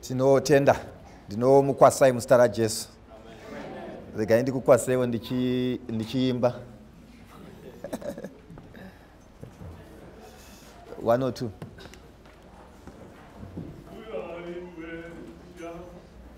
tinotenda ndinomukwasai muzita rajesu regai ndikukwaseiwo ndichiimba ndichi one or two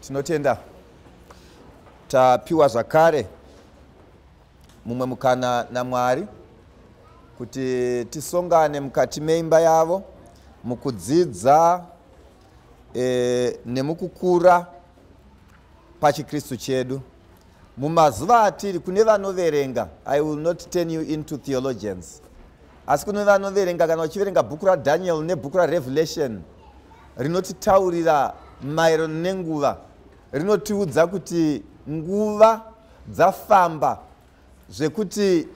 tinotenda tapiwa zvakare mumwe mukana namwari kuti tisongane mukati meimba yavo mukudzidza e, nemukukura pachikristu chedu Mumazuva atiri kune vanoverenga, I will not turn you into theologians. Asi kune vanoverenga kana vachiverenga bhuku raDaniel nebhuku raRevelation rinotitaurira maererano nenguva rinotiudza kuti nguva dzafamba zvekuti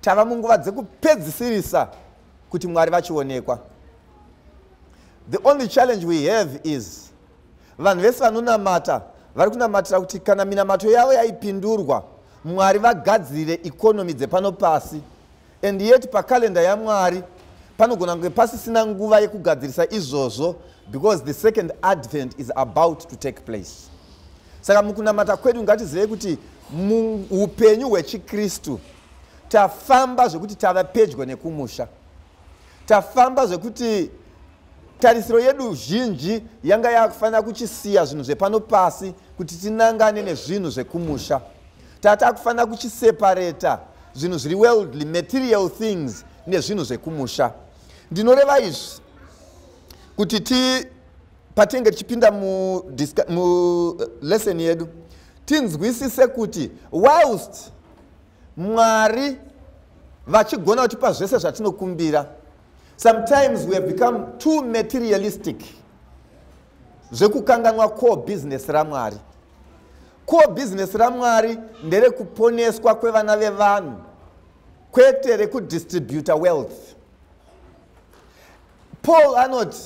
tava munguva dzekupedzisirisa kuti mwari vachionekwa the only challenge we have is Vanhu vese vanonamata vari kunamatira kuti kana minamato yavo yaipindurwa mwari vagadzirire ikonomi dzepano pasi and yet pakalenda yamwari panogona kunge pasisina nguva yekugadzirisa izvozvo because the second advent is about to take place saka mukunamata kwedu ngatizivei kuti muupenyu hwechikristu tafamba zvekuti tava pedyo nekumusha tafamba zvekuti tarisiro yedu zhinji yanga yakufanira kuchisiya zvinhu zvepano pasi kuti tinangane nezvinhu zvekumusha tatakufanira kuchisepareta zvinhu zviri worldly material things nezvinhu zvekumusha ndinoreva izvi kuti ti patinge tichipinda mulesson eh, yedu tinzwisise kuti whilst Mwari vachigona kutipa zvese zvatinokumbira. Sometimes we have become too materialistic zvekukanganwa core business raMwari. Core business raMwari nderekuponeswa kwevana vevanhu kwete rekudistributa wealth. Paul anoti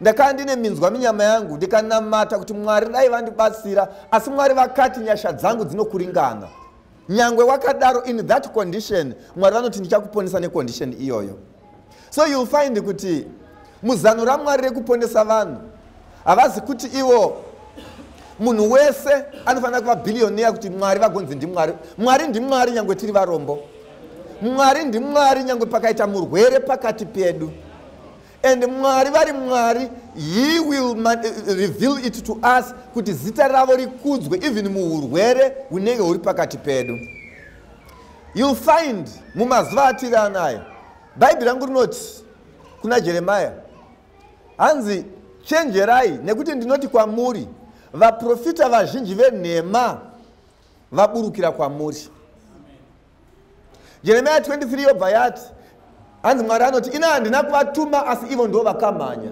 ndakanga ndine minzwa minyama yangu ndikanamata kuti mwari dai vandibatsira asi mwari vakati nyasha dzangu dzinokuringana nyangwe wakadaro in that condition mwari vanoti ndichakuponesa necondition iyoyo so youll find kuti muzano ramwari rekuponesa vanhu havazi kuti ivo munhu wese anofanira kuva bhiriyoniya kuti mwari vagonzi ndimwari mwari ndimwari nyangwe tiri varombo mwari ndimwari nyangwe pakaita murwere pakati pedu and mwari vari mwari he will reveal it to us kuti zita ravo rikudzwe even muurwere hunenge huri pakati pedu youll find mumazuva atiri anayo bhaibheri rangu rinoti kuna jeremaya hanzi chenjerai nekuti ndinoti kwamuri vaprofita vazhinji venhema vaburukira kwamuri jeremiya 23 yobva yati hanzi mwari anoti ini handina kuvatuma asi ivo ndo vakamhanya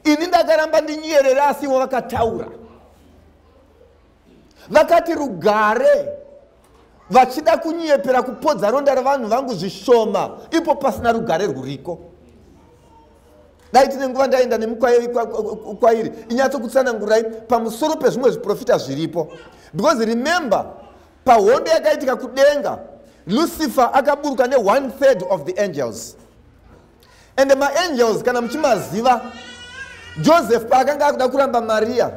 ini ndakaramba ndinyerera asi ivo vakataura vakati rugare vachida kunyepera kupodza ronda revanhu vangu zvishoma ipo pasina rugare rwuriko dai tine nguva ndaenda nemukwairi inyatsokutsanangurai pamusoro pezvimwe zviprofita zviripo because remember pahondo yakaitika kudenga lucifer akaburuka ne one third of the angels and maangels kana muchimaziva joseph paakanga akuda kuramba mariya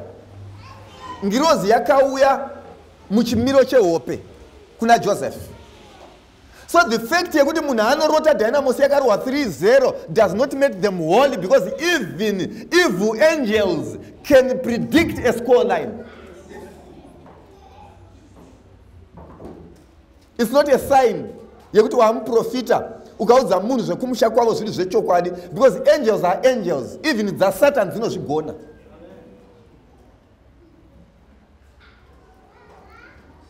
ngirozi yakauya muchimiro chehope kuna joseph So the fact yekuti munhu anorota Dynamos yakarohwa 3-0 does not make them holy because even evil angels can predict a score line. It's not a sign yekuti wamuprofita ukaudza munhu zvekumusha kwavo zviri zvechokwadi because angels are angels even dzasatan dzinozvigona.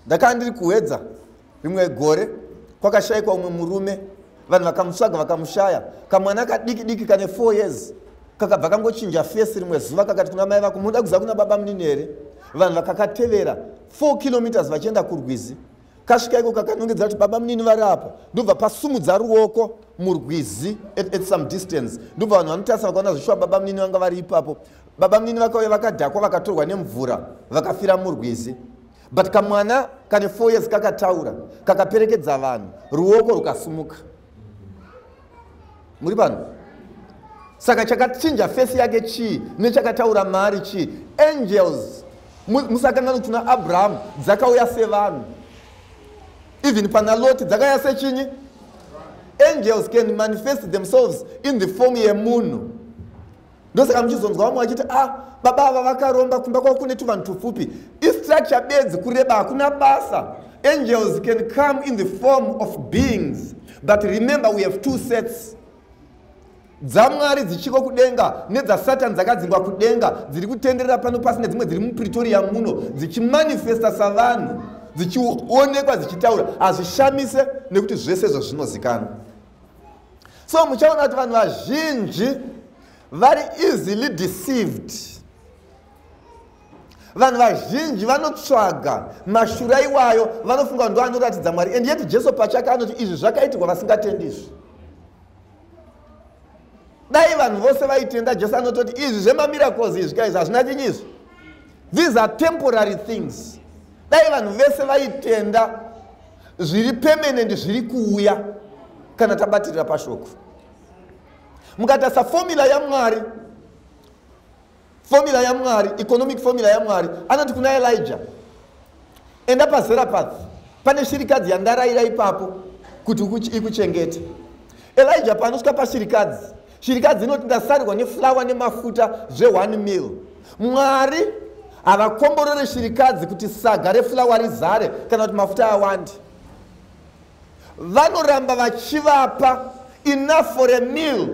ndakanga ndiri kuhedza rimwe gore kwakashaikwa umwe murume vanhu vakamutsvaga vakamushaya kamwana kadiki diki kane four years kakabva kangochinja fesi rimwe zuva kakati kuna mai vako munoda kuziva kuna baba munini here vanhu vakakatevera four kilometers vachienda kurwizi kasvika iko kakanongedza kuti baba munini vari apa ndobva pasumudza ruoko murwizi at, at some distance ndobva vanhu vanotarisa vakaona zvishuwa baba munini vanga vari ipapo baba munini vakauya vakadhakwa vakatorwa nemvura vakafira murwizi but kamwana kane four years kakataura kakaperekedza vanhu ruoko rukasumuka muri vanhu saka chakachinja fesi yake chii nechakataura mari chii angels musakangano kuti na abrahamu dzakauya sevanhu even pana loti dzakauya sechinyi angels can manifest themselves in the form yemunhu ndosaka muchizonzwa vamwe vachiti a ah, baba ava vakaromba kumba kwavo kune tuvanhu tupfupi istructure bedzi kureba hakuna basa angels can come in the form of beings but remember we have two sets dzamwari dzichiko kudenga nedzasatan dzakadzingwa kudenga dziri kutenderera pano pasi nedzimwe dziri mupretoria muno dzichimanifesta savanhu dzichionekwa dzichitaura hazvishamise nekuti zvese zvazvinozikanwa so muchaona kuti vanhu vazhinji vari easily deceived vanhu vazhinji vanotsvaga mashura iwayo vanofunga ndo anoratidza mwari and yet jesu pachake anoti izvi zvakaitirwa vasingatendi izvi dai vanhu vose vaitenda jesu anototi izvi zvemamiracles izvi kaizvi hazvina chinyi izvi these are temporary things dai vanhu vese vaitenda zviri permanent zviri kuuya kana tabatirira pashoko mukatasa fomula yamwari fomula yamwari economic fomula yamwari anoti kuna elija Enda paZerapath, pane shirikadzi yandarayira ipapo kuti ikuchengete. Elija paanosvika pashirikadzi, shirikadzi inoti ndasarirwa neflawa nemafuta zve1 mil. Mwari havakomborore shirikadzi kuti saga reflawa rizare kana kuti mafuta awande. Vanoramba vachivapa enough for a mil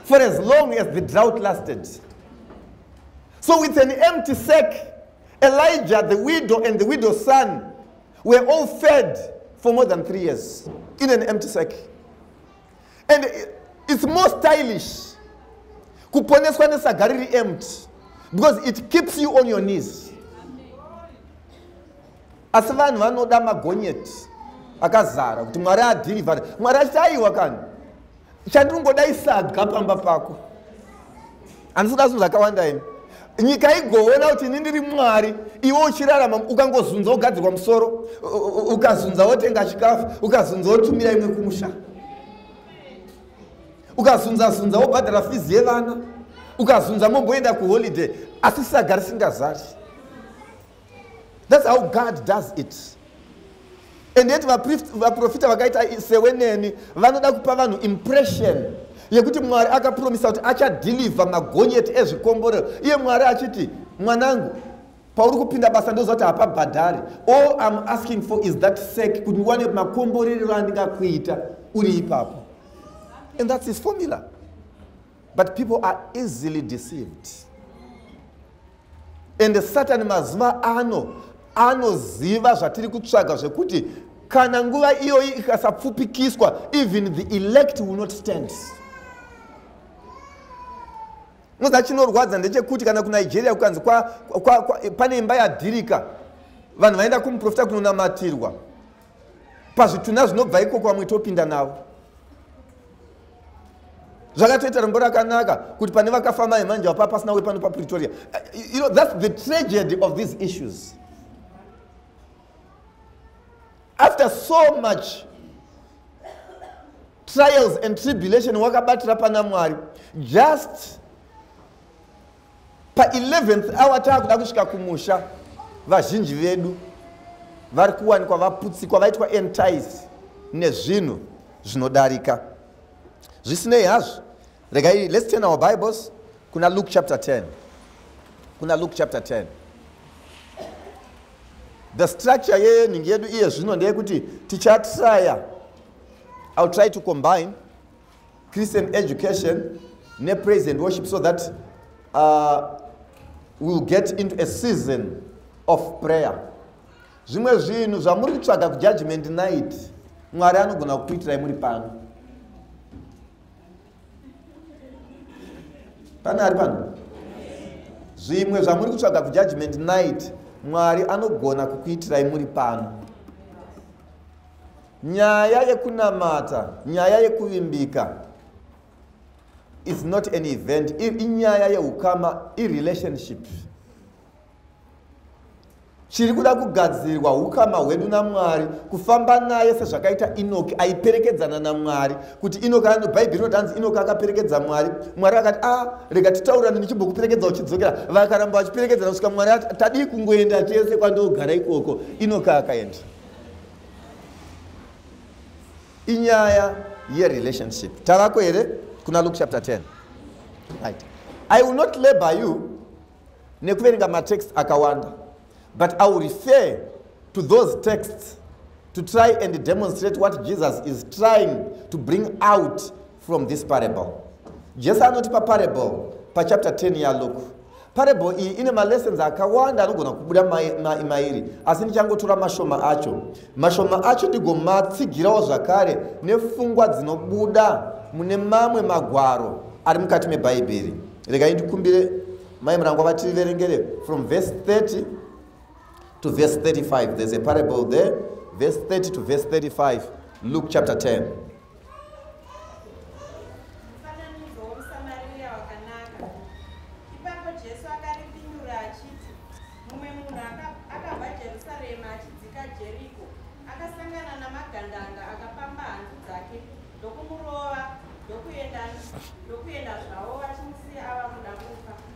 for as long as the drought lasted. So with an empty sack, Elijah, the widow, and the widow's son were all fed for more than three years in an empty sack. And it's more stylish kuponeswa nesaga riri empty because it keeps you on your knees. Asi vanhu vanoda magonyeti akazara kuti Mwari adhirivhare. Mwari achiti aiwa kani. chandinongoda isadya pamba pako andisida zvinhu zvakawanda ini nyika igoona kuti ini ndiri mwari iwe uchirarama ukangozunza wogadzirwa musoro ukazunza wotenga chikafu ukazunza wotumira imwe kumusha ukazunza zunza wobhadhara fizi yevana ukazunza momboenda kuholiday asi sagari singazari That's how God does it. And yet vaprofita vakaita sewe neni vanoda kupa vanhu impression yekuti mwari akapromisa kuti achadhilivha magonyeti ezvikomborero iye mwari achiti mwanangu pauri kupinda basa ndoziva kuti hapabhadhari all im asking for is that sake kuti ndiwane makomborerero andingakuita uri ipapo and thats his formula but people are easily deceived ende satani mazuva ano anoziva zvatiri kutsvaga zvekuti kana nguva iyoyi ikasapfupikiswa even the elect will not stand moza chinorwadza ndechekuti kana kunigeria kukanzi pane imba yadhirika vanhu vaenda kumuprofita kunonamatirwa pazvitunha zvinobva ikoko vamwe topinda navo zvakatoita rombo rakanaka kuti pane vakafa mai manje vapa pasina wepano papretoria you know, thats the tragedy of these issues after so much trials and tribulation wakabatira pana mwari just pa 11th hour taakuda kusvika kumusha vazhinji vedu vari kuwanikwa vaputsikwa vaitwa entice nezvinhu zvinodarika zvisinei hazvo regai let's turn our bibles kuna luke chapter 10 kuna luke chapter 10 the structure yeyeningi yedu iye zvino ndeyekuti tichatraya ill try to combine Christian education ne praise and worship so that uh, we'll get into a season of prayer zvimwe zvinhu zvamuri kutsvaga kujudgment night mwari anogona kukuitirai muri pano pane ari pano zvimwe zvamuri kutsvaga kujudgment night mwari anogona kukuitirai muri pano Nyaya yekunamata, nyaya yekuvimbika is not an event, inyaya yeukama, irelationship. Chiri kuda kugadzirwa ukama hwedu naMwari, kufamba naye sezvakaita Inoki aiperekedzana naMwari, kuti Inoki ano Bhaibheri rinotanzi Inoki akaperekedza Mwari, Mwari akati ah rega titaurane ndichimbokuperekedza uchidzokera, vakaramba vachiperekedzana kusvika Mwari ati tadii kungoenda tese kwandogara ikoko, Inoki akaenda. inyaya yerelationship tavako here kuna luke chapter 10 right. i will not labor you nekuverenga matext akawanda but i will refer to those texts to try and demonstrate what jesus is trying to bring out from this parable jesu anotipa parable pachapter 10 yaluke parable iyi ine malessons akawanda anogona kubuda mairi asi ndichangotora mashoma acho mashoma acho ndigomatsigirawo zvakare nefungwa dzinobuda mune mamwe magwaro ari mukati mebhaibheri regai ndikumbire mai murangwa vativerengere from verse 30 to verse 35 there's a parable there verse 30 to verse 35 luke chapter 10 Mufananidzo womuSamariya wakanaka. Ipapo Jesu akaripindura achiti, Mumwe munhu akabva Jerusarema achidzika Jeriko, akasangana namagandanga akapamba hanzu dzake ndokumurova ndokuenda zvavo vachimusiya ava kuda kufa.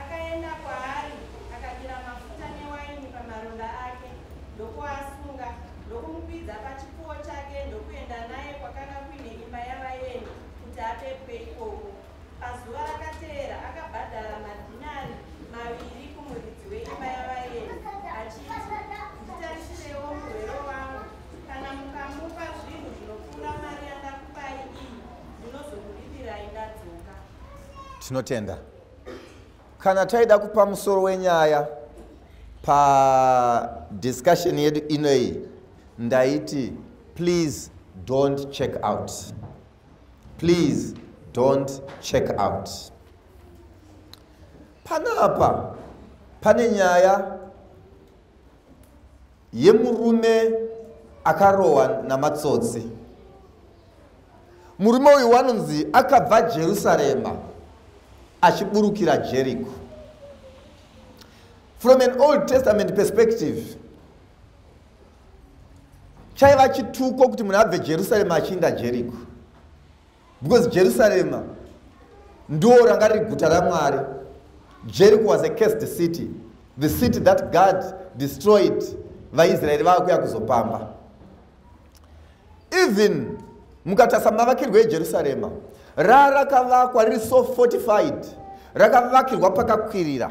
Akaenda kwaari, akadira mafuta newaini pamaronda ake, ndokuasunga, ndokumukwidza pachipfuwo chake, ndokuenda naye kwakanga kuine imba yavaeni, kuti apepwe ikoko. Pazuva rakateera akabhadhara madhinari maviri kumuridzi weimba yavaeni, achiti, Nditarisirewo murwere wangu, kana mukamupa zvinhu zvinopfuura mari yandakupai iyi, ndinozokuripirai ndadzoka. Tinotenda. kana taida kupa musoro wenyaya padiscussion yedu inoyi ndaiti please don't check out please don't check out panapa pane nyaya yemurume akarohwa namatsotsi murume uyu wanonzi akabva jerusarema achiburukira jeriko from an old testament perspective chaiva chituko kuti munhu abve jerusarema achiinda jeriko because jerusarema ndo ranga riri guta ramwari jericho was a cursed city the city that god destroyed vaisraeri vava kuya kuzopamba even mukatasa mavakirwo ejerusarema rarakavakwa riri so fortified rakavakirwa pakakwirira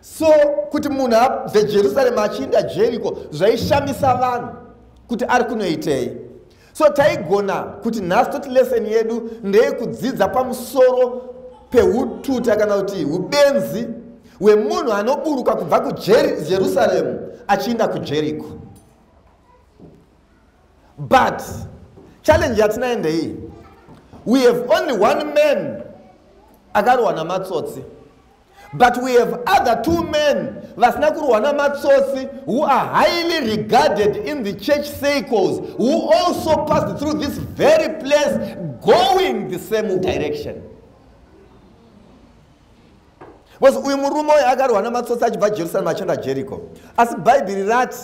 so kuti munhu abve jerusarema achiinda jeriko zvaishamisa vanhu kuti ari kunoitei so taigona kuti nhasi toti leseni yedu ndeyekudzidza pamusoro peututa kana kuti ubenzi hwemunhu anoburuka kubva kujerusaremu achiinda kujeriko but challenge yatinayo ndeiyi we have only one man akarohwa namatsotsi but we have other two men vasina kurohwa namatsotsi who are highly regarded in the church circles who also passed through this very place going the same direction because uyu murume uyo akarohwa namatsotsi achibva jerusalem achienda jericho asi bhaibheri rati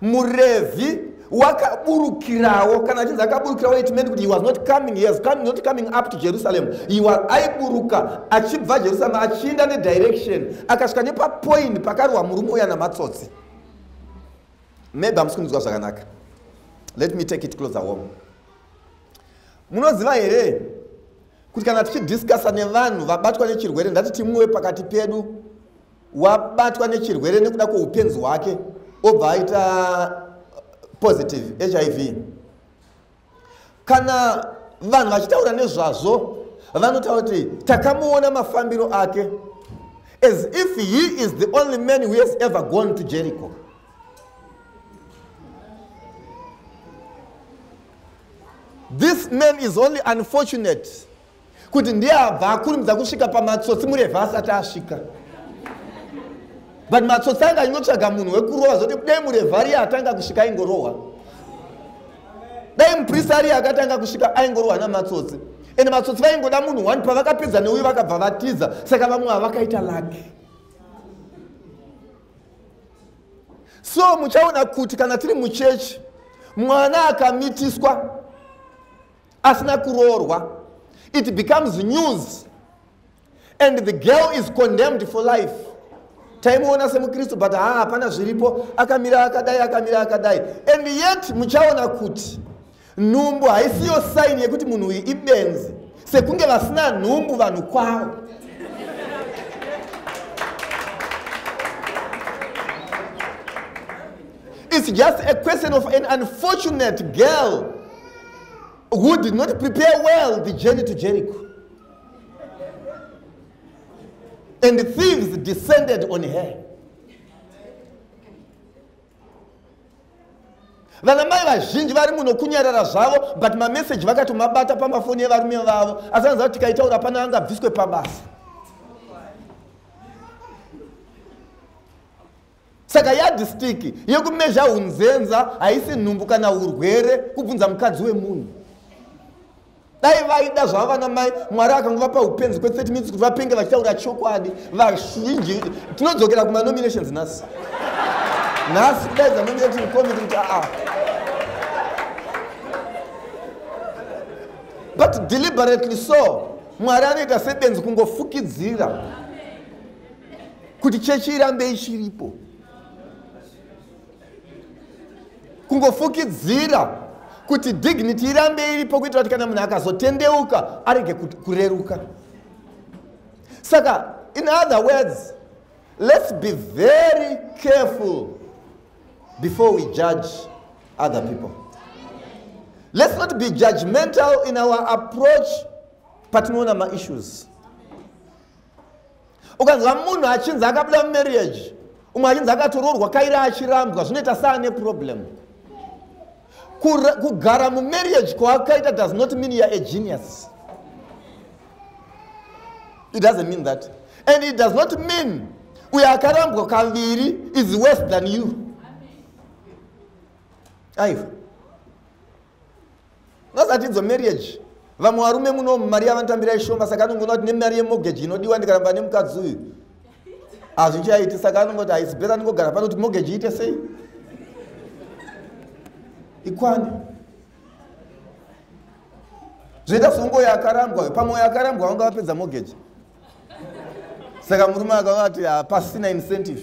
murevhi wakaburukirawo kana achinzi akaburukirawo it meant kuti he was not coming he was coming, not coming up to jerusalem he was aiburuka achibva jerusalem achienda nedirection akasvika nepapoint pakarwa murume uya namatsotsi maybe hamusi kunzwa zvakanaka let me take it closer home munoziva here kuti kana tichidiscussa nevanhu vabatwa nechirwere ndatiti mumwe wepakati pedu wabatwa nechirwere nekuda kweupenzi hwake obva aita uh, positive hiv kana vanhu vachitaura nezvazvo vanotaura kuti takamuona mafambiro ake as if he is the only man who has ever gone to jericho this man is only unfortunate kuti ndiye abva akurumidza kusvika pamatsotsi murevha asati asvika but matsotsi anga achingotsvaga munhu wekurohwa zvokuti dai murevha riye atanga kusvika aingorohwa dai muprista ariye akatanga kusvika aingorohwa namatsotsi ende matsotsi vaingoda munhu one pavakapedza neuyu vakabva vatiza saka vamwe havakaita laki so muchaona kuti kana tiri muchechi mwana akamitiswa asina kuroorwa it becomes news and the girl is condemned for life taimuona semukristu but haa hapana zviripo akamira akadai akamira akadai and yet muchaona kuti nhumbu haisiyo saini yekuti munhu uyu ibenzi sekunge vasina nhumbu vanhu kwavo it's just a question of an unfortunate girl who did not prepare well the journey to Jericho. And the thieves descended on her. vana mai vazhinji vari muno kunyarara zvavo but mameseji vakatomabata pamafoni evarume vavo asi vanoziva kuti tikaitaura pana angabviswe pabasa saka yadhistiki yekumezha unzenza haisi nhumbu kana urwere kubvunza mukadzi wemunhu dai vaida zvava vana mai mwari akangovapa upenzi kwe 30 minutes kuti vapenge vachitaura chokwadi vazhinji tinodzokera kumanominations nhasi nhasi kudai dzanominating committee kuti aa ah. but deliberately so mwari anoita sebenzi kungofukidzira kuti chechi irambe ichiripo kungofukidzira kuti dignity irambe iripo kuitira kuti kana munhu akazotendeuka arege kureruka saka in other words let's be very careful before we judge other people let's not be judgmental in our approach patinoona maissues ukanzwa munhu achinzi akabuda mumarriage umwe achinzi akatoroorwa kairi achirambwa zvinoita saane problem kugara mumarriage kwaakaita does not mean youare a genius it doesn't mean that and it does not mean uyo akarambwa kaviri is worse than you aiwa ngazatidzo marriage vamwe varume muno mari yavanotambira ishoma saka anongoona kuti nemari yemogeji inodiwa ndikaramba nemukadzi uyu hazvichaiti saka anongoti haisi beta ndingogara pano kuti mogeji iite sei ikwane zvoita songo yakarambwa pamwe yakarambwa vanga vapedza mogeji saka murume akavati hapasina incentive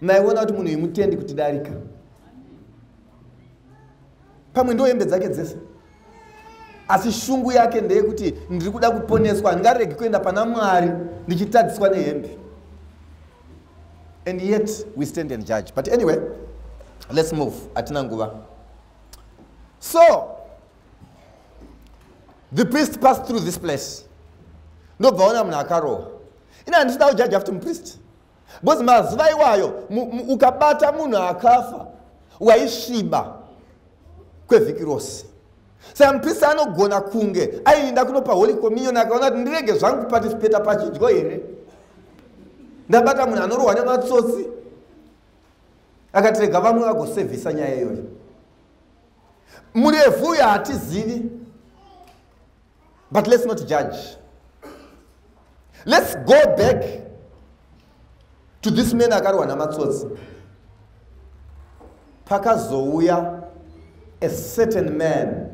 maiona kuti munhu imutendi kuti darika pamwe ndo hembe dzake dzese asi shungu yake ndeyekuti ndiri kuda kuponeswa handingaregi kuenda pana mwari ndichitadziswa nehembe and yet we stand and judge but anyway let's move hatina nguva so the priest passed through this place ndobva ona munhu akarohwa ini handisida kujaja futi mupriest because mazuva iwayo ukabata munhu akafa waisviba kwevhiki rose saka muprista anogona kunge aiinda kunopa holy communion akaona kuti ndirege zvangu kupatisipeta pachidyo here ndabata munhu anorohwa nematsotsi akatirega vamwe vagosevhisa nyaya iyoyo murefu uyo hatizivi but let's not judge let's go back to this man akarohwa namatsotsi pakazouya a certain man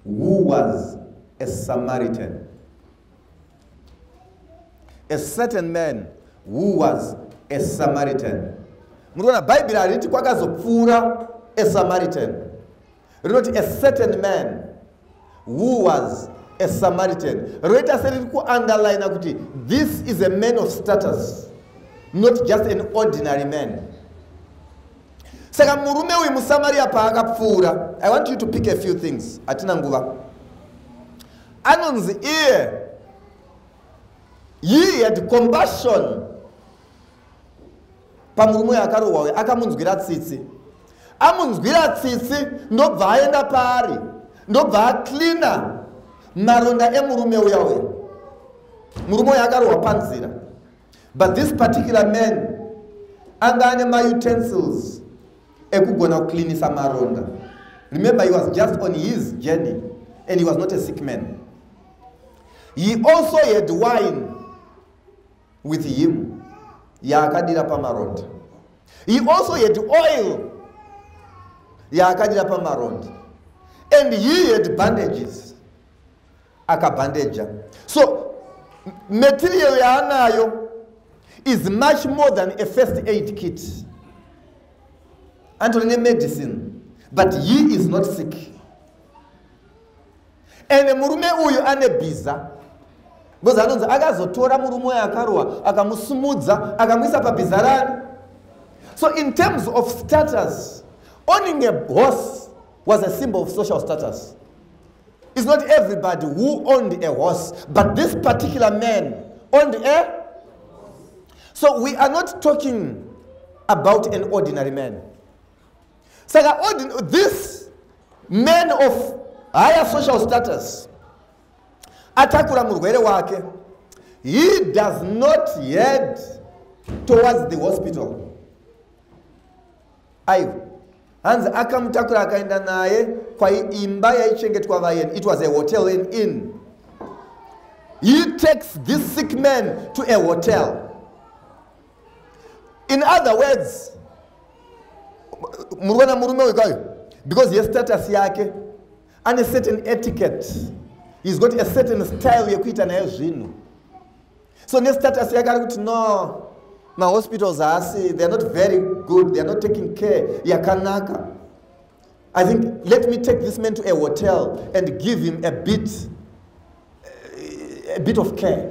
who was a samaritan a certain man who was a samaritan muri kuona bhaibheri hariti kwakazopfuura a samaritan rinoti a certain man who was a samaritan roita seriri kuunderline kuti this is a man of status not just an ordinary man saka murume uyu musamariya paakapfuura i want you to pick a few things hatina nguva anonzi iye he had compassion pamurume uyo akarohwa uyo akamunzwira tsitsi amunzwira tsitsi ndobva aenda paari ndobva acleana maronda emurume uya uya murume uyo akarohwa panzira but this particular man anga ane mautensils ekugona kucleanisa maronda remember he was just on his journey and he was not a sick man he also had wine with him yaakadira pamaronda he also had oil yaakadira pamaronda and he had bandages akabhandeja so material yaanayo is much more than a first aid kit antori nemedicine but he is not sick ende murume uyu ane bhiza bcoz anonzi akazotora murume uyo akarohwa akamusumudza akamuisa pabhiza rani so in terms of status owning a horse was a symbol of social status is not everybody who owned a horse but this particular man owned a so we are not talking about an ordinary man saka this man of higher social status atakura murwere wake he does not head towards the hospital aiwa hanzi akamutakura akaenda naye kwaimba yaichengetwa vayeni it was a hotel and in he takes this sick man to a hotel in other words murikuona murume uyu kayo because yestatus yake ane certain etiquette he's got a certain style yekuita naye zvinhu so nestatus yake ari kuti no mahospitals haasi theyare not very good theyare not taking care yakanaka i think let me take this man to a hotel and give him a bit, a bit of care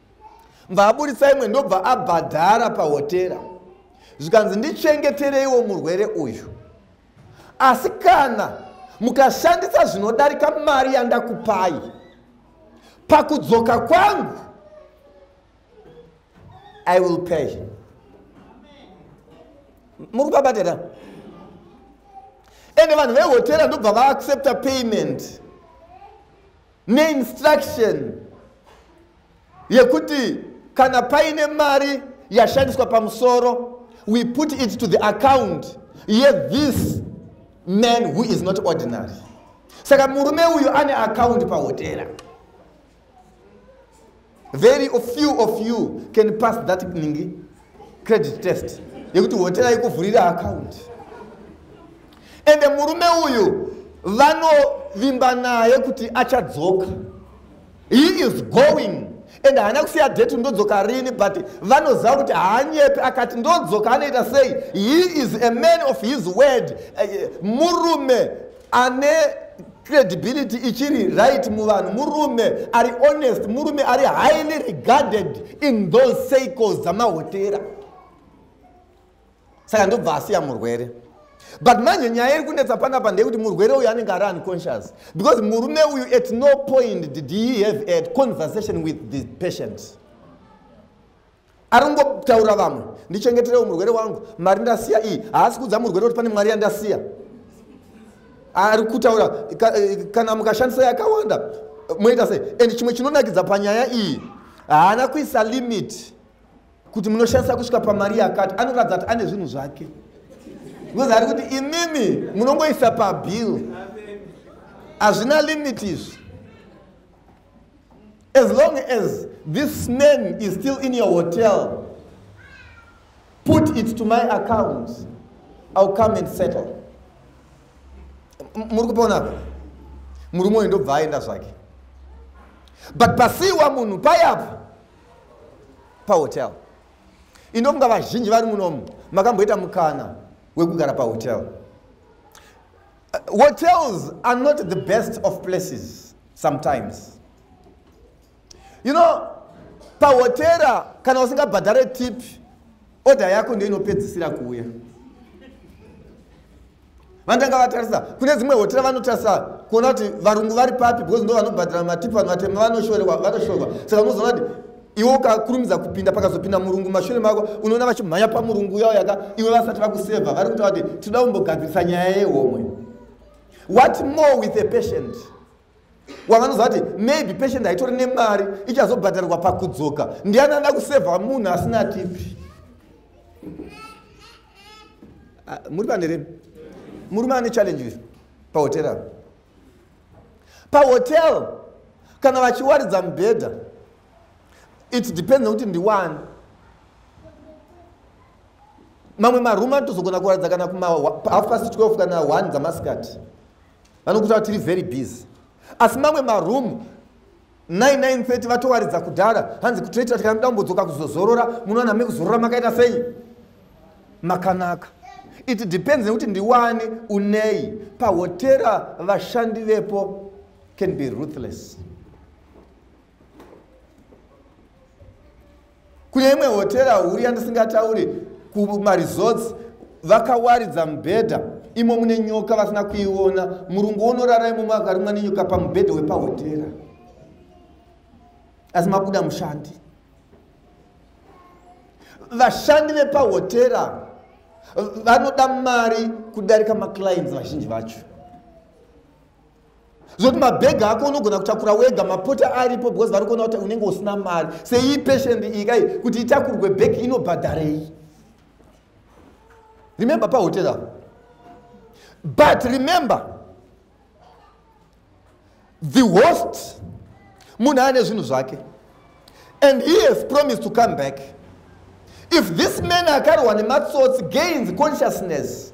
mva aburitsa imwe ndobva abhadhara pahotera zvikanzi ndichengetereiwo murwere uyu asi kana mukashandisa zvinodarika mari yandakupai pakudzoka kwangu i will pay muri kupabatira ende vanhu vehotera ndobva vaaccepta payment neinstruction yekuti kana paine mari yashandiswa pamusoro we put it to the account yethis man who is not ordinary saka murume uyu ane akaundi pahotera Very few of you can pass that ningi credit test yekuti hotera ikuvhurira account and murume uyu vanovimba naye kuti achadzoka he is going and haana kusiya date ndodzoka rini but vanoziva kuti haanyepi akati ndodzoka anoita sei he is a man of his word eh, murume ane credibility ichiri right muvanhu murume ari honest murume ari highly regarded in those cycles dzamahotera saka ndobva asiya murwere but manje nyaya iri kunetsa panapa ndeyekuti murwere uyu anenge ari unconscious because murume uyu at no point did he have a conversation with the patient ari kungotaura vamwe ndichengeterewo murwere wangu mari ndasiya iyi haasi kuudza murwere kuti pane mwari yandasiya ari kutaura eh, kana mukashandisa yakawanda moita sei and chimwe chinonakidza panyaya iyi haana kuisa limit kuti munoshandisa kusvika pamari yakati anoratidza kuti ane zvinhu zvake because ari kuti imimi munongoisa pabill hazvina limit izvi as long as this man is still in your hotel put it to my account ill come and settle muri kuponapo murume uyu ndobva aenda zvake but pasiwa munhu payapo pahotel inofunga vazhinji vari munomu makamboita mukana wekugara pahotel Uh, hotels are not the best of places sometimes. You know, pahotera kana usingabhadhare tip order yako ndiyo inopedzisira kuuya vandanga vatarisa kune dzimwe hotera vanotarisa kuona kuti varungu vari papi because ndo vanobhadhara matipi vanhu vatema vanoshorewa vanoshorewa saka unozoona kuti iwe ukakurumidza kupinda pakazopinda murungu mashure mako unoona vachimhanya pamurungu yao yaka iwe vasati vakuseva vari kutaura kuti tinoda kumbogadzirisa nyaya yehomwe what more with a patient wavanoziva kuti maybe patient haitori nemari ichazobhadharirwa pakudzoka ndiani anoda kuseva munhu asina tipi ah, muri pane rei murume ane challenge pahoterao pahotel kana vachiwaridza mubhedha it depends nekuti ndiwani mamwe marume anotozogona kuwaridza kana kuma half past 12 kana 1 dzamasikati vanokuta tiri very busy asi mamwe marumu 9930 vatowaridza kudhara hanzi kutoita tika mudambodzoka kuzozorora munowana mekuzorora makaita sei makanaka it depends nekuti ndiwani unei pahotera vashandi vepo can be ruthless kune imwe hotera huru yandisingataure kumaresorts vakawaridza mubhedha imo mune nyoka vasina kuiona murungu wonorara imomo akarumwa nenyoka pamubhedha wepahotera asi mabuda mushandi vashandi vepahotera vanoda mari kudarika maclients vazhinji vacho zoti mabhegi ako unogona kutakura wega mapota aripo because vari kuona kuti unenge usina mari seiyi peshend iyi kai kuti itakurwe bhegi inobhadharei remember pahotera but remember the host munhu ane zvinhu zvake and he has promised to come back if this man akarwa nematsotsi gains consciousness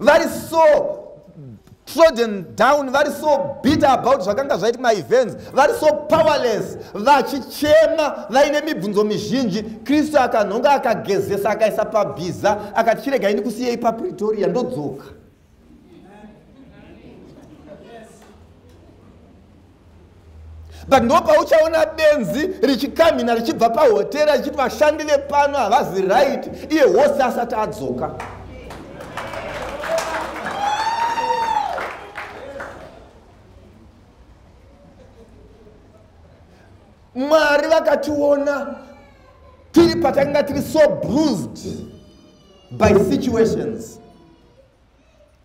vari so trodden down vari so bitter about zvakanga zvaiti maevents vari so powerless vachichema vaine mibvunzo mizhinji kristu akanhonga akagezesa akaisa pabhiza akati chirega ini kusiyei papretoria ndodzoka but ndopauchaona benzi richikamhina richibva pahotera richiti vashandi vepano havazi right iye hose asati adzoka mwari vakationa tiri patakanga tiri so bruised by situations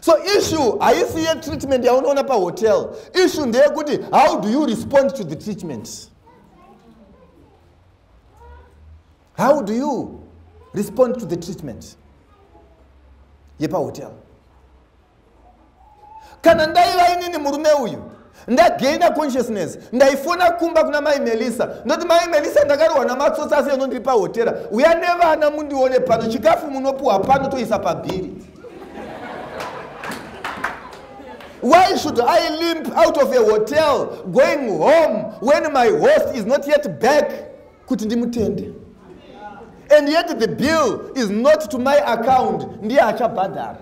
so issue haisi yetreatment yaunoona pahotel issue ndeyekuti how do you respond to the treatment how do you respond to the treatment yepahotel kana ndaiva inini murume uyu ndagaina consciousness ndaifona kumba kuna mai melisa ndoti mai melisa ndakarohwa namatsotsi asi eno ndiri pahotera uya nevana mundione pano chikafu munopuhwa pano toisa pabhiri why should i limp out of a hotel going home when my host is not yet back kuti ndimutende and yet the bill is not to my account ndiye achabhadhara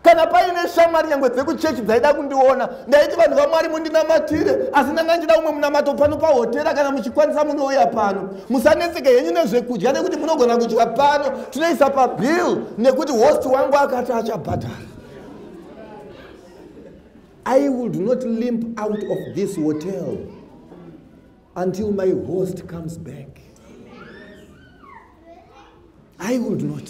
kana paine shamwari nyangwe dzekuchechi dzaida kundiona ndaiti vanhu vamwari mundinamatire asi ndanga ndida umwe munamato pano pahotera kana muchikwanisa munouya pano musanetseke henyu nezvekudya nekuti munogona kudya pano tinoisa pabill nekuti host wangu akati achabhadhara i would not limp out of this hotel until my host comes back i would not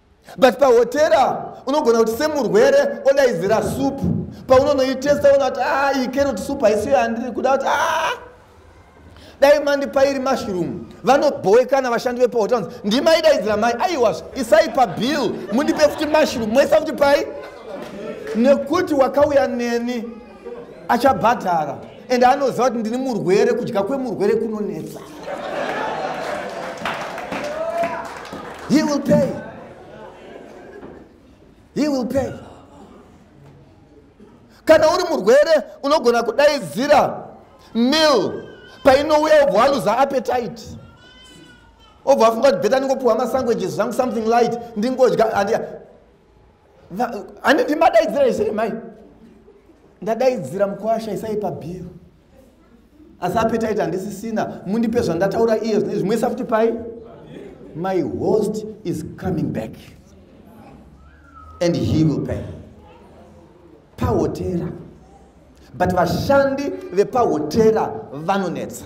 but pahotera unogona kuti semurwere odaidzira supu paunonoitesta ona kuti ah, iyi carrot supu haisiyo yandiri kuda kuti ah, dai mandipa iri mushroom vanobhowekana vashandi vepahotera ndimaidaidzira mai aiwazvo isai pabill mundipe futi mushroom moisa futi pai nekuti wakauya neni achabhadhara and anoziva kuti ndini murwere kudya kwemurwere kunonetsa he will pay he will pay kana uri murwere unogona kudaidzira mil painouya obva waluza appetite obva afunga kuti beta ndingopiwa masanguages zvangu something light ndingodya handiti madaidzira izviri mai ndadaidzira mukwasha isai pabhiro asi apetaiti handisisina mundipe zvandataura iye zvine zvimwe isa futi pai my host is coming back and he will pay pahotera but vashandi vepahotera vanonetsa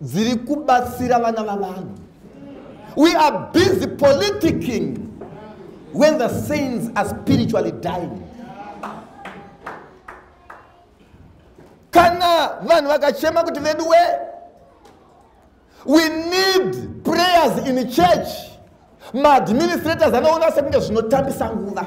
dziri kubatsira vana vavanhu we are busy politicking when the saints are spiritually dying kana vanhu vakachema kuti vedu we we need prayers in church maadministrators anoona sekunge zvinotambisa nguva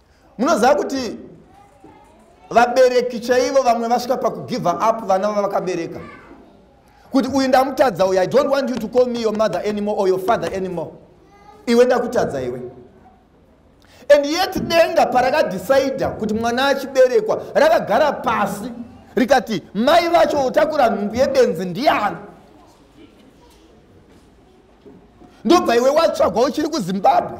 munoziva kuti vabereki chaivo vamwe vasvika pakugive up vana vavakabereka kuti uyu ndamutadza uyu i don't want you to call me your mother anymore or your father anymore iwe ndakutadza iwe and yet denga parakadhisaidha kuti mwana achiberekwa rakagara pasi rikati mai vacho utakura nhumbu yebenzi ndiani ndobva iwe watsvagwa uchiri kuzimbabwe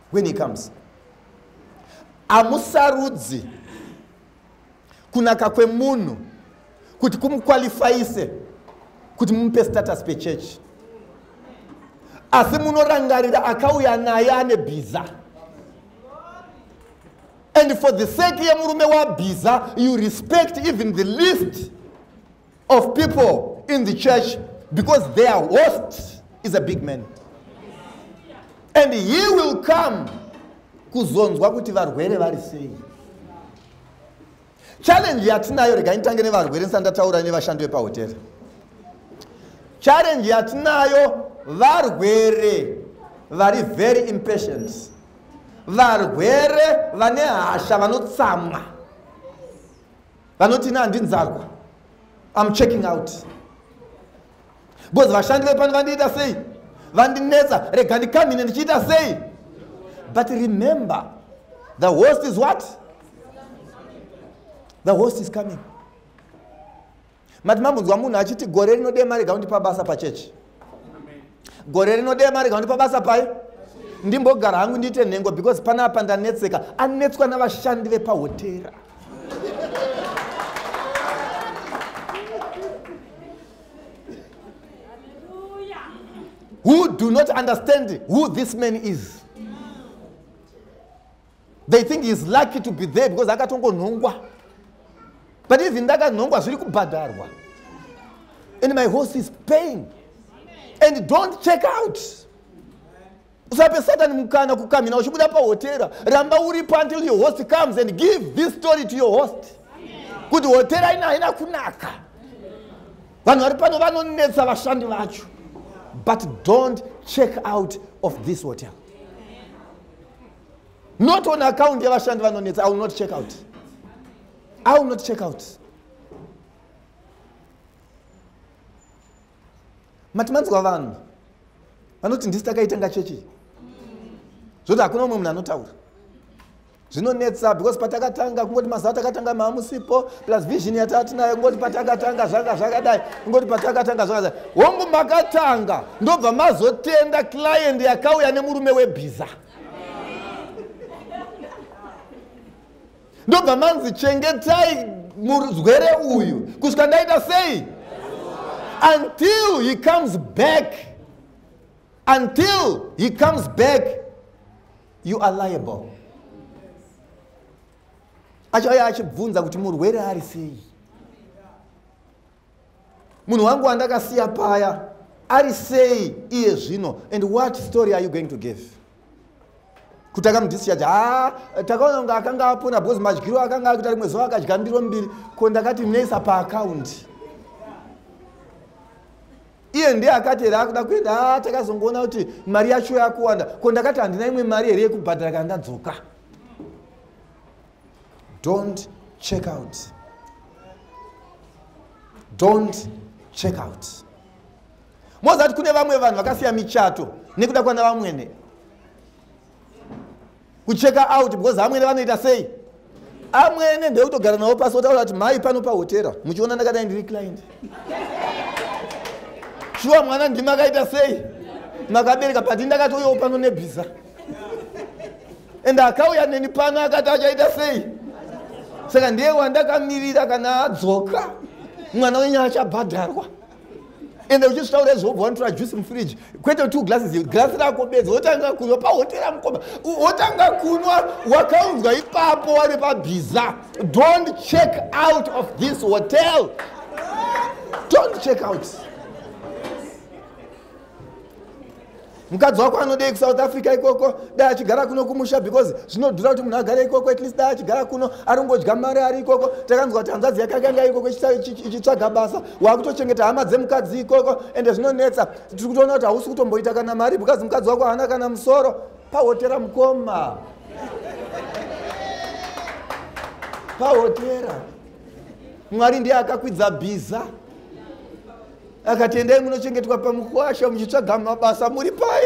when he comes hamusarudzi kunaka kwemunhu kuti kumukwalifayise kuti mumupe status pechechi asi munorangarira akauya naye ane bhiza and for the sake yemurume wabhiza you respect even the least of people in the church because their host is a big man and he will come kuzonzwa kuti varwere vari sei challenge yatinayo rega nditange nevarwere ndisati ndataura nevashandi vepahotera challenge yatinayo varwere vari very impatient varwere vane hasha vanotsamwa vanoti ina handinzarwa am checking out because vashandi vepano vandiita sei vandinetsa rega ndikamhine ndichiita sei but remember the host is what the host is coming mati mambonzwa munhu achiti gore rinodema rega undipa basa pachechi gore rino dei marega kundipa basa pai ndimbogara hangu ndiite nhengo because panapa ndanetseka anetswa navashandi vepahotera who do not understand who this man is they think heis lucky to be there because akatongonhongwa but even ndakanhongwa zviri kubhadharwa and my horse is paying and don't check out usape satani mukana kukamhina uchibuda pahotera ramba uripo until your host comes and give this story to your host kuti hotera ina haina kunaka vanhu vari pano vanonetsa vashandi vacho but don't check out of this hotel not on account yevashandi vanonetsa i will not check out i will not check out mati manzwa vanhu vanoti ndisi takaitanga chechi zvoti hakuna umwe munhu anotaura zvinonetsa because patakatanga kungoti mazuva takatanga maamusipo plus vision yataatinayo kungoti patakatanga zvanga zvakadai kungoti patakatanga zvakadai hongu makatanga ndobva mazotenda client yakauya nemurume webhiza ndobva manzi chengetai murwere uyu kusvika ndaita sei until he comes back until he comes back you are liable achauya achibvunza kuti murwere ari sei munhu wangu wandakasiya paya ari sei iye zvino and what story are you going to give kuti akamudischarge ha takaona kunge akanga apona because madyiro akanga akuita rimwe zuva akadya ndiro mbiri ko ndakati mnaisa paakaundi iye ndiye akati here akuda kuenda ha takazongoona kuti mari yacho yakuwanda ko ndakati handina imwe mari here yekubhadhara kana ndadzoka don't check out don't check out mozati kune vamwe vanhu vakasiya michato nekuda kwana vamwene kucheka out because amwene vanoita sei amwene ndekutogara navo pasi otaura kuti mhai pano pahotera muchiona ndakadai ndiri client shuwa mwana ndimi akaita sei makabereka but ndakatoyawo pano nebhiza ende akauya neni pano akati achaita sei saka ndiye wandakamirira kana adzoka mwana wenyu achabhadharwa ende uchizvitaura izvobva wanotora juice mufridge kwete two glasses glasi rako bedzi wotanga kunwa pahotera mukoma wotanga kunwa wakaunzwa ipapo wari pabhiza don't check out of this hotel don't check out mukadzi wako anodei kusouth africa ikoko dai achigara kuno kumusha because zvinodhura kuti munhu agare ikoko at least dai achigara kuno ari kungodya mari ari ikoko takanzwa kuti hanzvadzi yake akanga ikoko ichitsvaga basa waakutochengeta hama dzemukadzi ikoko ende zvinonetsa tiri kutoona kuti hausi kutomboita kana mari because mukadzi wako haana kana musoro pahotera mukoma pahotera mwari ndiye akakwidza bhiza akati endai munochengetwa pamukwasha muchitsvaga mabasa muri pai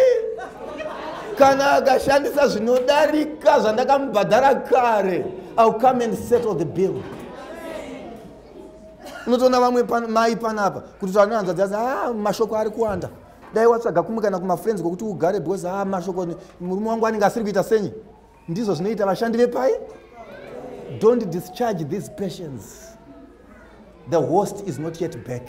kana akashandisa zvinodarika zvandakamubhadhara kare ill come and settle the bill unotoona vamwe mai panapa kuti tanoanza dzazi a ah, mashoko ari kuwanda dai watsvaga kumukana kumafriends kwekuti ugare because a ah, mashoko murume wangu anenge asiri kuita senyi ndizvo zvinoita vashandi vepai don't discharge these patients the host is not yet back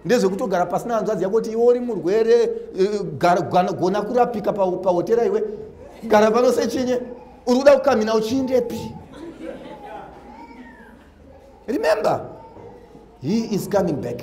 ndezvekutogara pasina hanzvadzi yako kuti iwe uri murwere eh, eh, gona kurapika pahotera iwe gara pano sechinye uri kuda kukamina uchiindepi remember he is coming back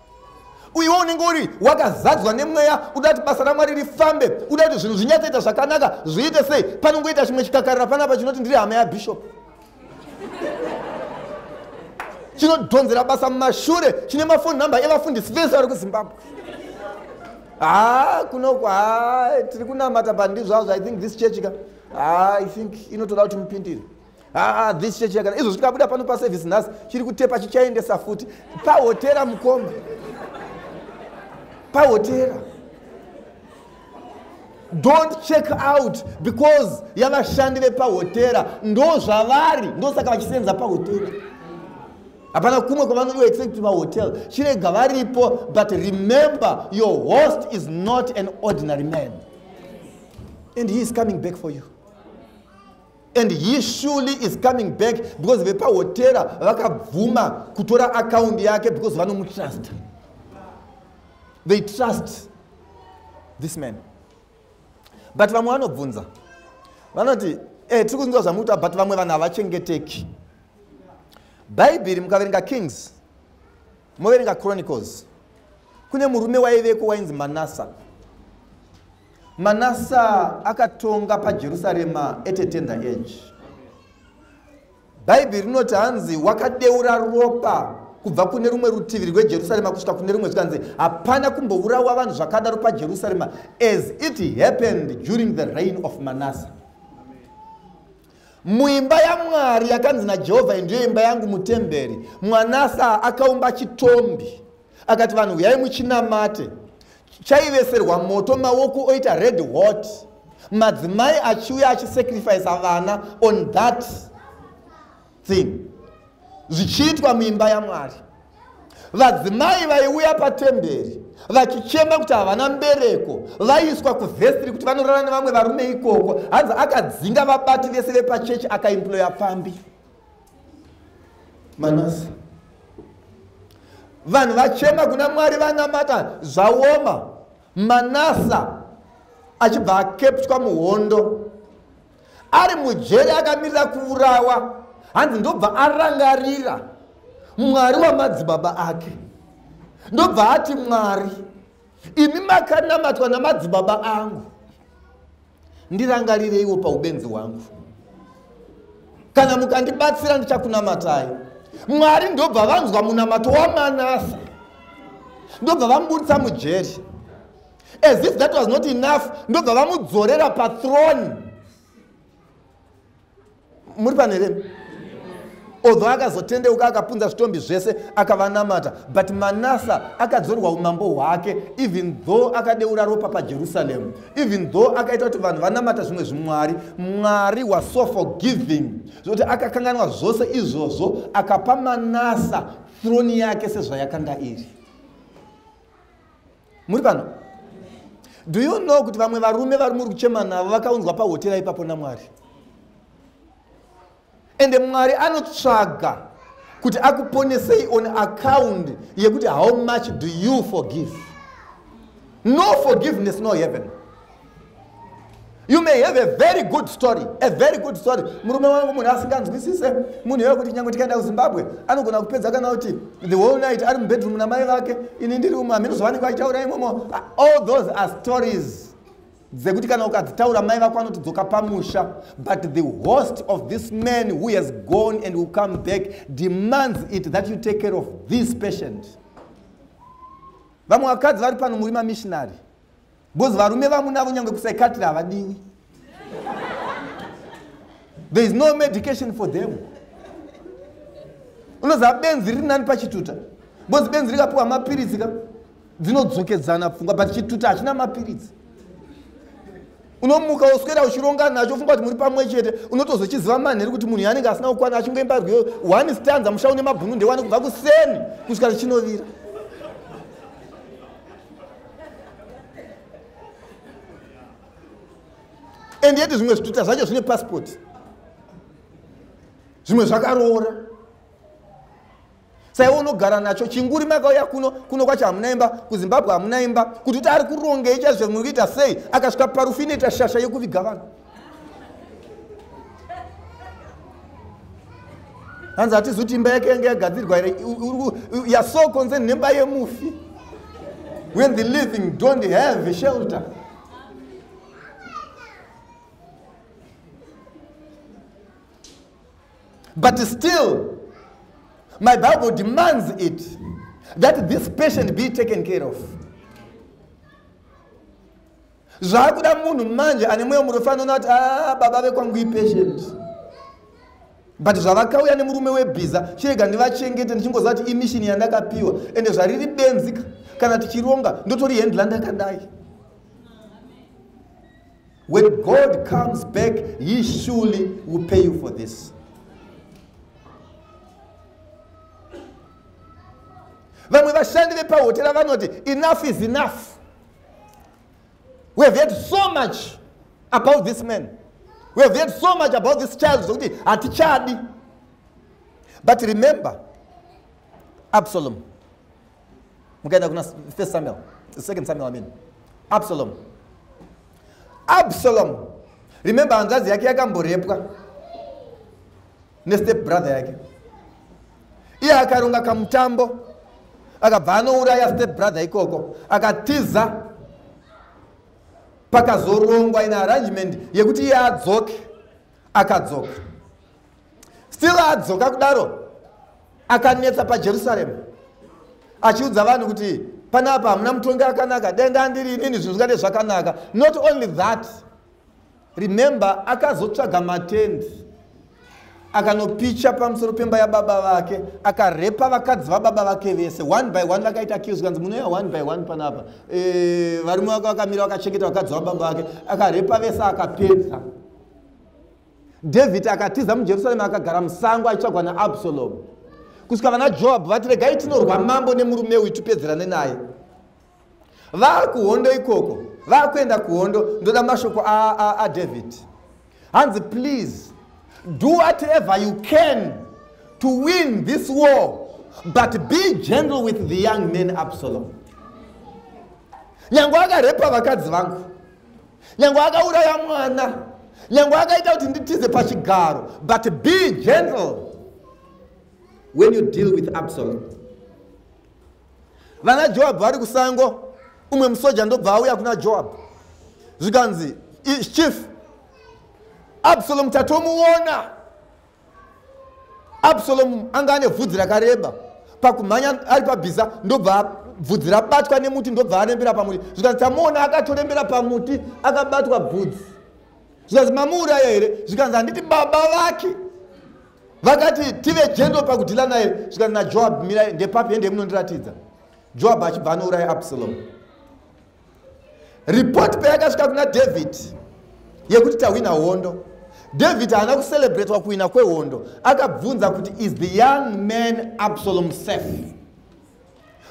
uyewo unenge uri wakazadzwa nemweya uda kuti basa ramwari rifambe uda kuti zvinhu zvinyatsoita zvakanaka zviite sei panongoita chimwe chikakarira panapa chinoti ndiri hama yabishop chinodhonzera basa mumashure chine mafoni number evafundisi vese vari kuzimbabwe haa kunoku haa tiri kunamata pandizvazvo i think this church ka haa i think inotoda kuti mupindire haa ah, this church yakana izvo zvikabuda pano paservice nhasi chiri kutepa chichaendesa futi pahotera mukoma pahotera don't check out because yavashandi vepahotera ndo zvavari ndosaka vachisenza pahotera hapana kumwe kwavanodo except vahotel chirega varipo but remember your host is not an ordinary man and he is coming back for you and he surely is coming back because vepahotera vakabvuma kutora akaundi yake because vanomutrust they trust this man but vamwe vanobvunza vanoti eh, tiri kunzwa zvamukuta but vamwe vanhu havachengeteki bhaibheri mukaverenga kings moverenga chronicles kune murume waiveko wainzi manasa manasa akatonga pajerusarema at a tender age bhaibheri rinoti hanzi wakadeura ropa kubva kune rumwe rutivi rwejerusarema kusvika kune rumwe zvikanzi hapana kumbourawa vanhu zvakadaro pajerusarema as it happened during the reign of manasa Muimba yaMwari yakanzi naJehovha iyi ndiyo imba yangu mutemberi. Mwanasa akaumba chitombi akati vanhu huyai muchinamate. Chaiveserwa moto maoko oita red hot. Madzimai achiuya achisacrifice vana on that thing. zvichiitwa muimba yamwari vadzimai vaiuya patemberi vachichema kuti havana mbereko vaiswa kuvhesitiri kuti vanorara nevamwe varume ikoko hanzi akadzinga vabati vese vepachechi akaimploya pfambi manasi vanhu vachema kuna mwari vanamata zvaoma manasa achibva akeptwa muhondo ari mujeri akamirira kuurawa hanzi ndobva arangarira mwari wamadzibaba ake ndobva ati mwari imi makanamatwa namadzibaba angu ndirangarireiwo paubenzi hwangu kana mukandibatsira ndichakunamatai mwari ndobva vanzwa munamato wamanasa ndobva vamubudisa mujeri as if that was not enough ndobva vamudzorera pathrone muri paneremi although akazotendeuka akapunza zvitombi zvese akavanamata but manasa akadzorwa umambo hwake even though akadeura ropa pajerusaremu even though akaita kuti vanhu vanamata zvimwe zvimwari mwari waso forgiving zvokuti akakanganwa zvose izvozvo akapa manasa throni yake sezvayakanga iri muri pano do you know kuti vamwe varume vari muri kuchema navo vakaunzwa pahotera ipapo namwari ende mwari anotsvaga kuti akuponesei on account yekuti how much do you forgive no forgiveness no heaven you may have a very good story a very good story murume wangu munhu asinganzwisise munhu iwe kuti nyange tikaenda kuzimbabwe anogona kupedza kana kuti the whole night ari mubedroom namai vake ini ndiri umu hamino zvavanenge vachitaura imomo all those are stories dzekuti kana ukadzitaura mai vako anotodzoka pamusha but the host of this man who has gone and will come back demands it that you take care of this patient vamwe vakadzi vari pano muri mamishinary Because varume vamunavo nyange kusaikatiri havadiwi. There is no medication for them. Unoziva benzi riri nani pachituta. Because benzi rikapiwa mapiritsi ka dzinodzokedzana pfungwa but chituta hachina mapiritsi. unomuka woswera uchironga nacho ufunga kuti muri pamwe chete unotozochiziva manheri kuti munhu yanenge asina kukwana achingoimba rwiyo one stanza musha une mabhunu ndewani kubva kuseni kusvika richinovira and yet zvimwe zvituta zvacho zvine passport zvimwe zvakaroora saiwe unogara nacho chinguri makauya kuno kuno kwacho hamuna imba kuzimbabwe hamuna imba kuti kuti ari kurongei chaizvo zvimwe kuita sei akasvika parufu inoita shasha yekuviga vanhu hanzi hatizuti imba yake yange yagadzirwa here youare so concerned nemba yemufi when the living don't have a shelter but still my bible demands it that this patient be taken care of zvakuda munhu manje ane mweya murefu anoona kuti ah, baba vekwangu ipatient but zvavakauya nemurume webhiza chirega ndivachengete ndichingoziva kuti imishini yandakapiwa ende zvariri benzika kana tichironga ndotori hendla ndakadai when god comes back he surely will pay you for this vamwe vashandi vepahotera vanoti enough is enough we have heard so much about this man we have heard so much about this child zvokuti hatichadi but remember absalom mukaenda kuna first samuel second samuel i mean absalom absalom remember hanzvadzi yake yakamborepwa nestep brother yake iye akaronga kamutambo akabva anouraya step brother ikoko akatiza pakazorongwa in arrangement yekuti iye adzoke akadzoka still adzoka kudaro akanetsa pajerusaremu achiudza vanhu kuti panapa hamuna mutongi akanaka dai ndandiri inini zvinhu zvingade zvakanaka not only that Remember akazotsvaga matend akanopicha pamusoro pemba yababa vake akarepa vakadzi vababa vake vese one by one vakaita kills kanzi munoya one by one panapa e, varume vake vakamira vakachengeta vakadzi vababa vake akarepa vese akapedza david akatiza mujerusalema akagara musango aitsvagwa naabsalomu kusvika vana joabhu vati regai tinorwa mambo nemurume uyu tipedzerane naye vakuhondo ikoko vakuenda kuhondo ndoda mashoko adavid hanzi please do whatever you can to win this war but be gentle with the young man absalom nyange akarepa vakadzi vangu nyange akauraya mwana nyange akaita kuti nditize pachigaro but be gentle when you deal with absalom vana joabhu vari kusango umwe musoja ndobva auya kuna joabhu zvikanzi chief absalomu tatomuona absalomu anga ane vhudzi rakareba pakumhanya ari pabhiza ndobva bvudzi rabatwa nemuti ndobva arembera pamuti zvikanzi tamuona akatorembera pamuti akabatwa bvudzi zvikanzi mamuuraya here zvikanzi handiti baba vake vakati tive jendo pakudhila naye zvikati najoab mirai ndepapi hende munondiratidza joab achibva anouraya absalomu ripoti peyakasvika kuna david yekuti tahwina hondo david haana kucelebratwa kuhwina kwehondo akabvunza kuti is the young man absalom safe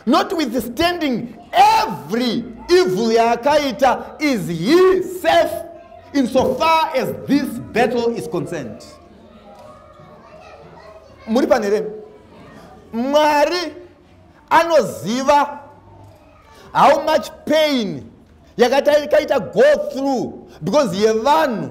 notwithstanding every evil yaakaita is he safe in so far as this battle is concerned muri pane here mwari anoziva how much pain yakataikaita go through because yevanhu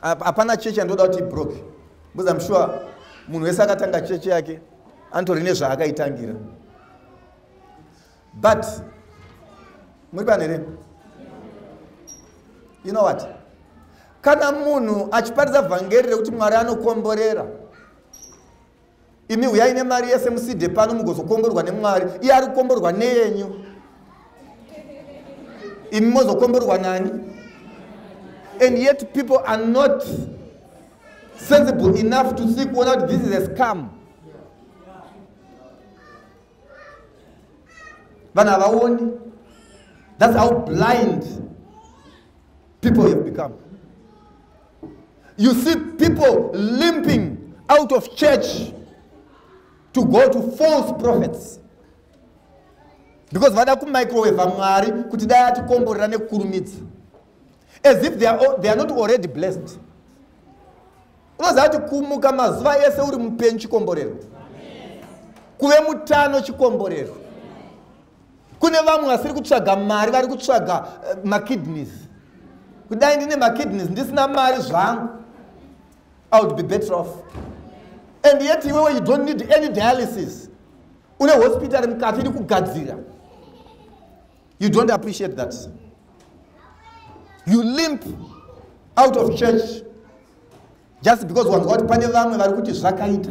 hapana chechi yandoda kuti ibroke because im sure munhu wese akatanga chechi yake anotori nezvaakaitangira but muri pano here you know what kana munhu achiparidza vhangeri rekuti mwari anokomborera imi huyai nemari yese muside pano mugozokomborwa nemwari iye ari kukomborwa neyenyu imi mozokomborwa nani and yet people are not sensible enough to see kuona kuti this is a scam vanhu havaoni that's how blind people have become You see people limping out of church to go to false prophets because vada kumicroweva mwari kuti dai atikomborera nekukurumidza as if they are, they are not already blessed unoziva kuti kumuka mazuva ese uri mupenyu chikomborero kuve mutano chikomborero kune vamwe vasiri kutsvaga mari vari kutsvaga eh, makidneys kudai ndine makidneys ndisina mari zvangu i would be better off and yet iwewe you don't need any dialysis une hospitari mukati iri kugadzira you don't appreciate that you limp out of church just because wanzwa kuti pane vamwe vari kuti zvakaita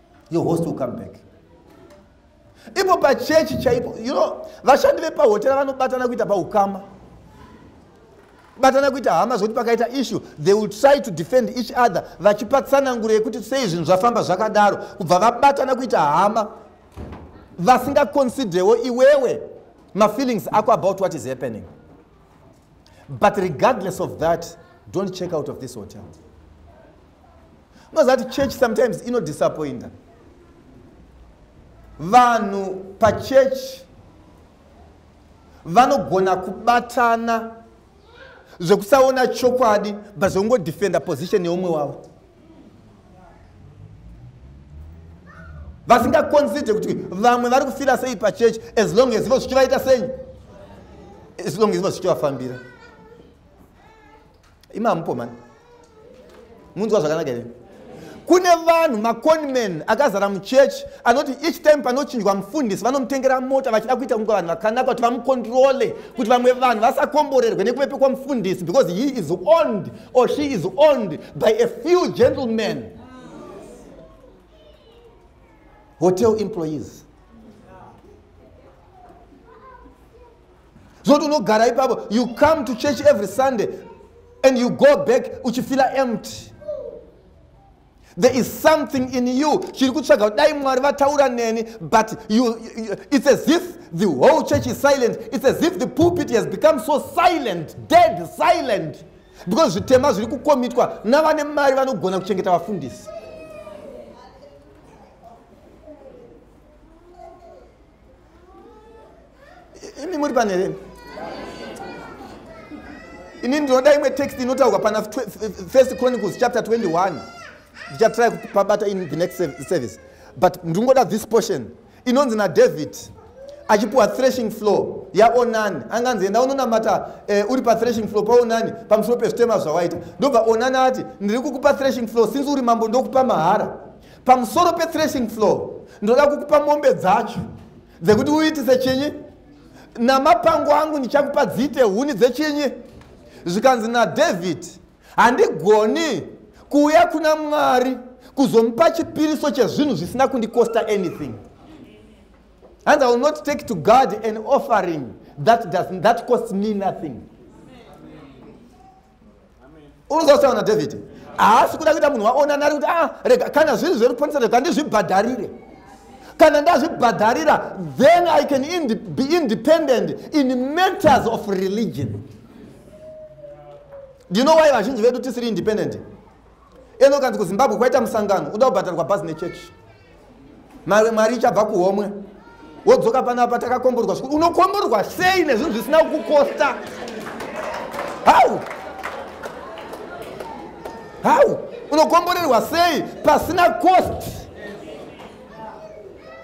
your host will come back ipo pachechi chaipo you know vashandi vepahotera vanobatana kuita paukama batana kuita hama zvekuti pakaita issue they will try to defend each other vachipa tsananguro yekuti sei zvinhu zvafamba zvakadaro kubva vabatana kuita hama vasingaconsiderewo iwewe mafeelings ako about what is happening but regardless of that don't check out of this hotel unozati church sometimes inodisappointa vanhu pachechi vanogona kubatana zvekusaona chokwadi but zvekungodefenda position yeumwe wavo vasingaconsidre kuti vamwe vari kufira sei pachechi as long as vo zvichivaita sei as long as vo zvichivafambira imi hamupo mani munzwa zvakanaka here kune vanhu maconman akazara muchechi anoti each time panochinjwa mufundisi vanomutengera mota vachida kuita kunge vanhu vakanaka kuti vamukondirole kuti vamwe vanhu vasakomborerwe nekupepekwa mufundisi because he is owned or she is owned by a few gentlemen hotel employees zoti unogara ipapo you come to church every sunday and you go back uchifila empty there is something in you chiri kutsvaga dai mwari vataura neni but you, you, it's as if the whole church is silent it's as if the pulpit has become so silent dead silent because zvitema zviri kukomitwa navane mari vanogona kuchengeta vafundisi imi muri pane here ini ndinoda imwe text inotaurwa pana first chronicles chapter 21 ndichatry kupabata in the next service but ndingoda this portion inonzi nadavid achipiwa threshing floor yaonani anga anzi enda unonamata eh, uri pathreshing floor paonani pamusoro pezvitema zvawaita ndobva onani ati ndiri kukupa threshing floor since uri mambo ndokupa mahara pamusoro pethreshing floor ndoda kukupa mombe dzacho dzekuti uitise chinyi namapango angu ndichakupa dziite huni dzechinyi zvikanzi nadhavhidhi handigoni kuuya kuna mwari kuzomupa chipiriso chezvinhu zvisina kundikosta anything and i will not take to god an offering that, does, that costs me nothing unozautaura nadhavhidhi haasi kuda kuita munhu waonana ari kuti a ah, rega kana zviri zveruponesa rega ndizvibhadharire kana ndazvibhadharira then i can ind be independent in matters of religion do you know why vazhinji vedu tisiri independent ende ukanzi kuzimbabwe kwaita musangano uda kubhadharwa bhazi nechechi mave mwari ichabva kuhomwe wodzoka panapa takakomborwa zvikuru unokomborwa sei nezvinhu zvisina kukosta hau hau unokomborerwa sei pasina cost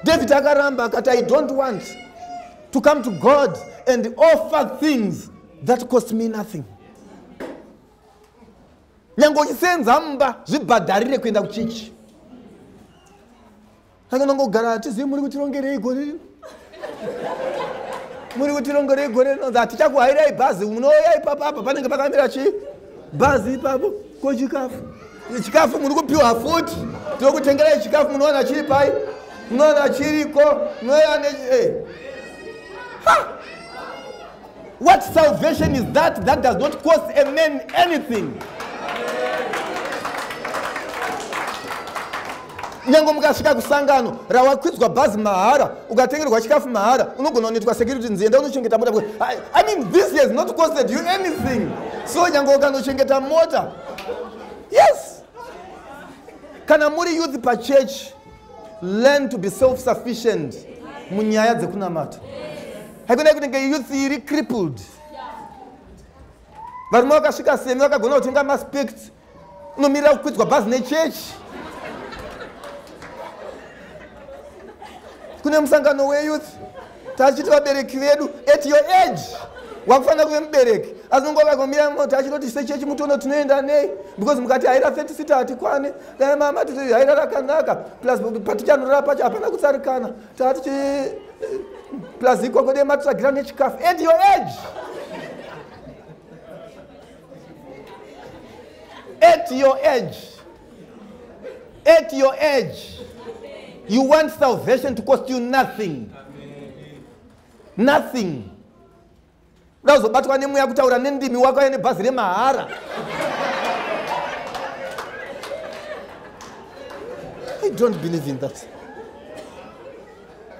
david akaramba akati i don't want to come to god and offer things that cost me nothing nyange uchisenza mumba zvibhadharire kuenda kuchichi saka unongogara hatizivi muri kutirongerei gore rino muri kutirongerei gore rino hatichakuhairai bhazi munouya ipapo apa panenge pakamira chii bhazi ipapo ko chikafu chikafu muri kupiwa futi tokutengerai chikafu munowana chiri pai munowana chiriko munoya ne eh. What salvation is that that does not cost a man anything? nyange mukasvika kusangano rawakwidzwa bhazi mahara ukatengerwa chikafu mahara unogona kunoitwa security nzienda unochengeta mota i mean this has not costed you anything so nyange ukanochengeta mota yes kana muri youth pachurch learn to be self sufficient munyaya dzekunamata haikona kuti nge youth iri crippled varume vakasvika semi vakagona kutenga maspect unomirira kukwidzwa bhazi nechechi kune musangano weyouth tachiti vabereki vedu at your age wakufanira kuve mubereki asi nonguva vakamira moti achinoti sechechi mutono tinoenda nei because mukati haira 30 sita hatikwane dai mama titi haira rakanaka plus patichanorara pacho hapana kutsarikana tatichi eh, plus ikoko dei matitsvagira nechikafu at your age at your age at your age you want salvation to cost you nothing nothing uda kuzobatwa nemweya kutaura nendimi wakauya nebhazi remahara i don't believe in that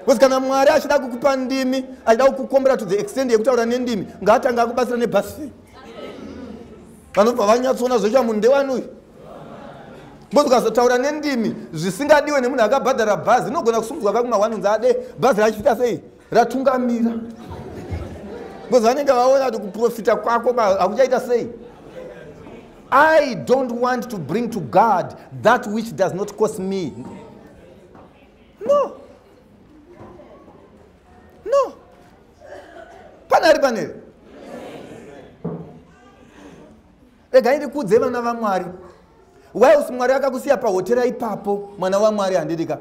bcause kana mwari achida kukupa ndimi achida kukukombera to the extend yekutaura nendimi ngaatanga akubatsira nebhasi vanobva vanyatsoona zvoita munhu ndewani uyu Mbozi ukazotaura nendimi zvisingadiwe nemunhu akabhadhara bhazi inogona kusungudzwa kakuma one unzi ade bhazi rachifita sei ratungamira because vanenge vaona kuti kuprofita kwako hakuchaita sei i don't want to bring to god that which does not cost me no no pane ari paneri regai ndikudze vana vamwari whiles mwari akakusiya pahotera ipapo mwana wamwari handidika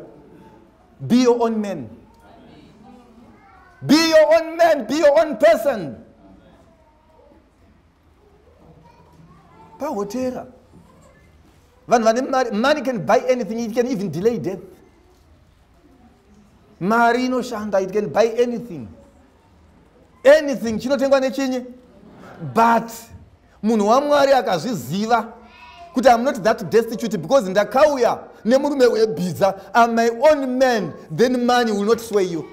be your own man be your own man be your own person pahotera vanhu vane mari money can buy anything it can even delay death mari inoshanda it can buy anything anything chinotengwa nechinyi but munhu wamwari akazviziva kuti am not that destitute because ndakauya nemurume webhiza am my own man then money will not sway you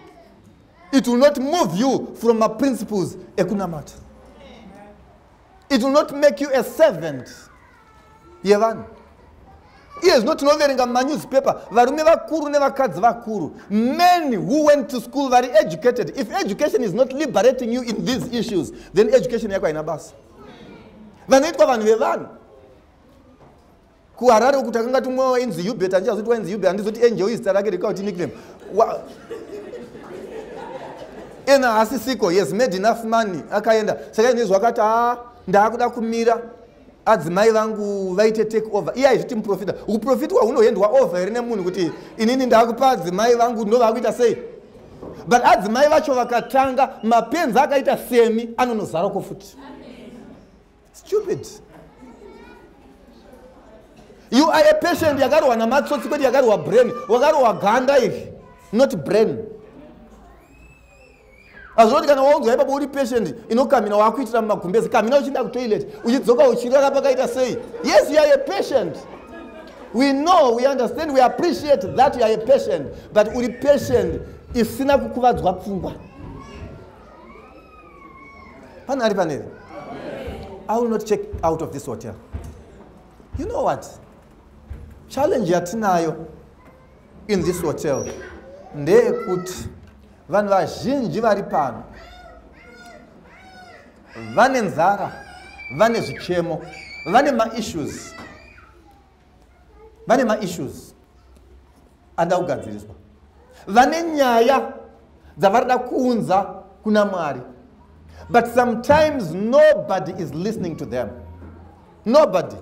it will not move you from my principles ekunamata it will not make you a servant yevanhu iye zvino tinoverenga mumanewspaper varume vakuru nevakadzi vakuru men who went to school vari educated if education is not liberating you in these issues then education yako haina basa vanoitwa vanhu vevanhu kuharare uku takanga tumwe wainzi hubert andi azoti wainzi hubert andizoti angel izita rake rikauti nickname ena asisiko yes made enough money akaenda saka inezvo akati a ah, ndaakuda kumira adzimai vangu vaite take over iye aizviti muprofita uprofitwa hunoendwa over here nemunhu kuti inini ndakupa adzimai vangu ndovakuita sei but adzimai vacho vakatanga mapenzi akaita semi anonozaroko futi stupid you are a patient yakarohwa namatsotsi kwete yakarohwa brain wakarohwa ganda iri not brain azvoti kana waunzwa ipapo uri patient inokamina wakuitira mumagumbezi kamina uchienda kutoilet uchidzoka uchirara pakaita sei yes you are a patient we know we understand we appreciate that you are a patient but uri patient isina kukuvadzwa pfungwa pane ari paneri i will not check out of this hotel you know what challenge yatinayo in this hotel ndeyekuti vanhu vazhinji vari pano vane nzara vane zvichemo vane maissues vane maissues ada kugadziriswa vane nyaya dzavari da kuunza kuna mwari but sometimes nobody is listening to them nobody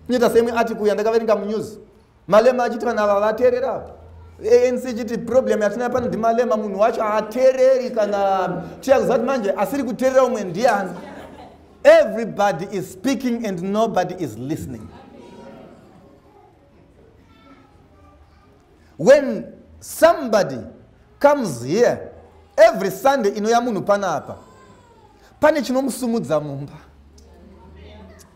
kunyita seimwe article yandakaverenga munews malema achiti vanhu ava vateerera apa anc chiti problem yatina pano ndimalema munhu wacho haateereri kana tiya kuziva kuti manje asiri kuteerera umwe ndiani everybody is speaking and nobody is listening when somebody comes here every sunday inouya munhu panapa pane chinomusumudza mumba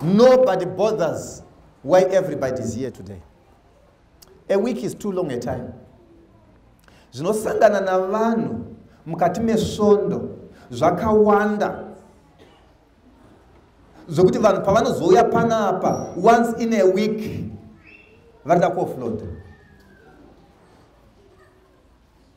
Nobody bothers why everybody is here today. A week is too long a time. Zvinosangana navanhu mukati mesvondo zvakawanda zvokuti vanhu pavanozouya panapa once in a week vanoda kuofloda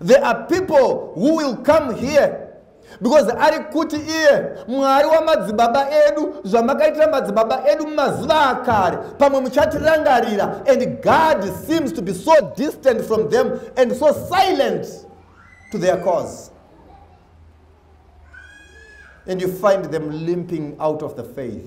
there are people who will come here because ari kuti iye mwari wamadzibaba edu zvamakaitira madzibaba edu mumazuva akare pamwe muchatirangarira and god seems to be so distant from them and so silent to their cause and you find them limping out of the faith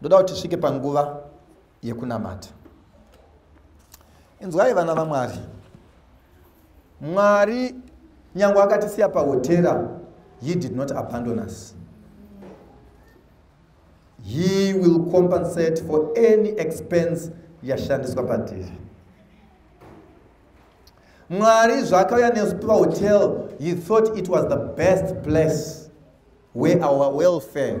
ndoda kuti tisvike panguva yekunamata inzwai vana vamwari mwari nyange akatisiya pahotera he did not abandon us he will compensate for any expense yashandiswa patiri mwari zvaakauya nesu pahotel he thought it was the best place where our welfare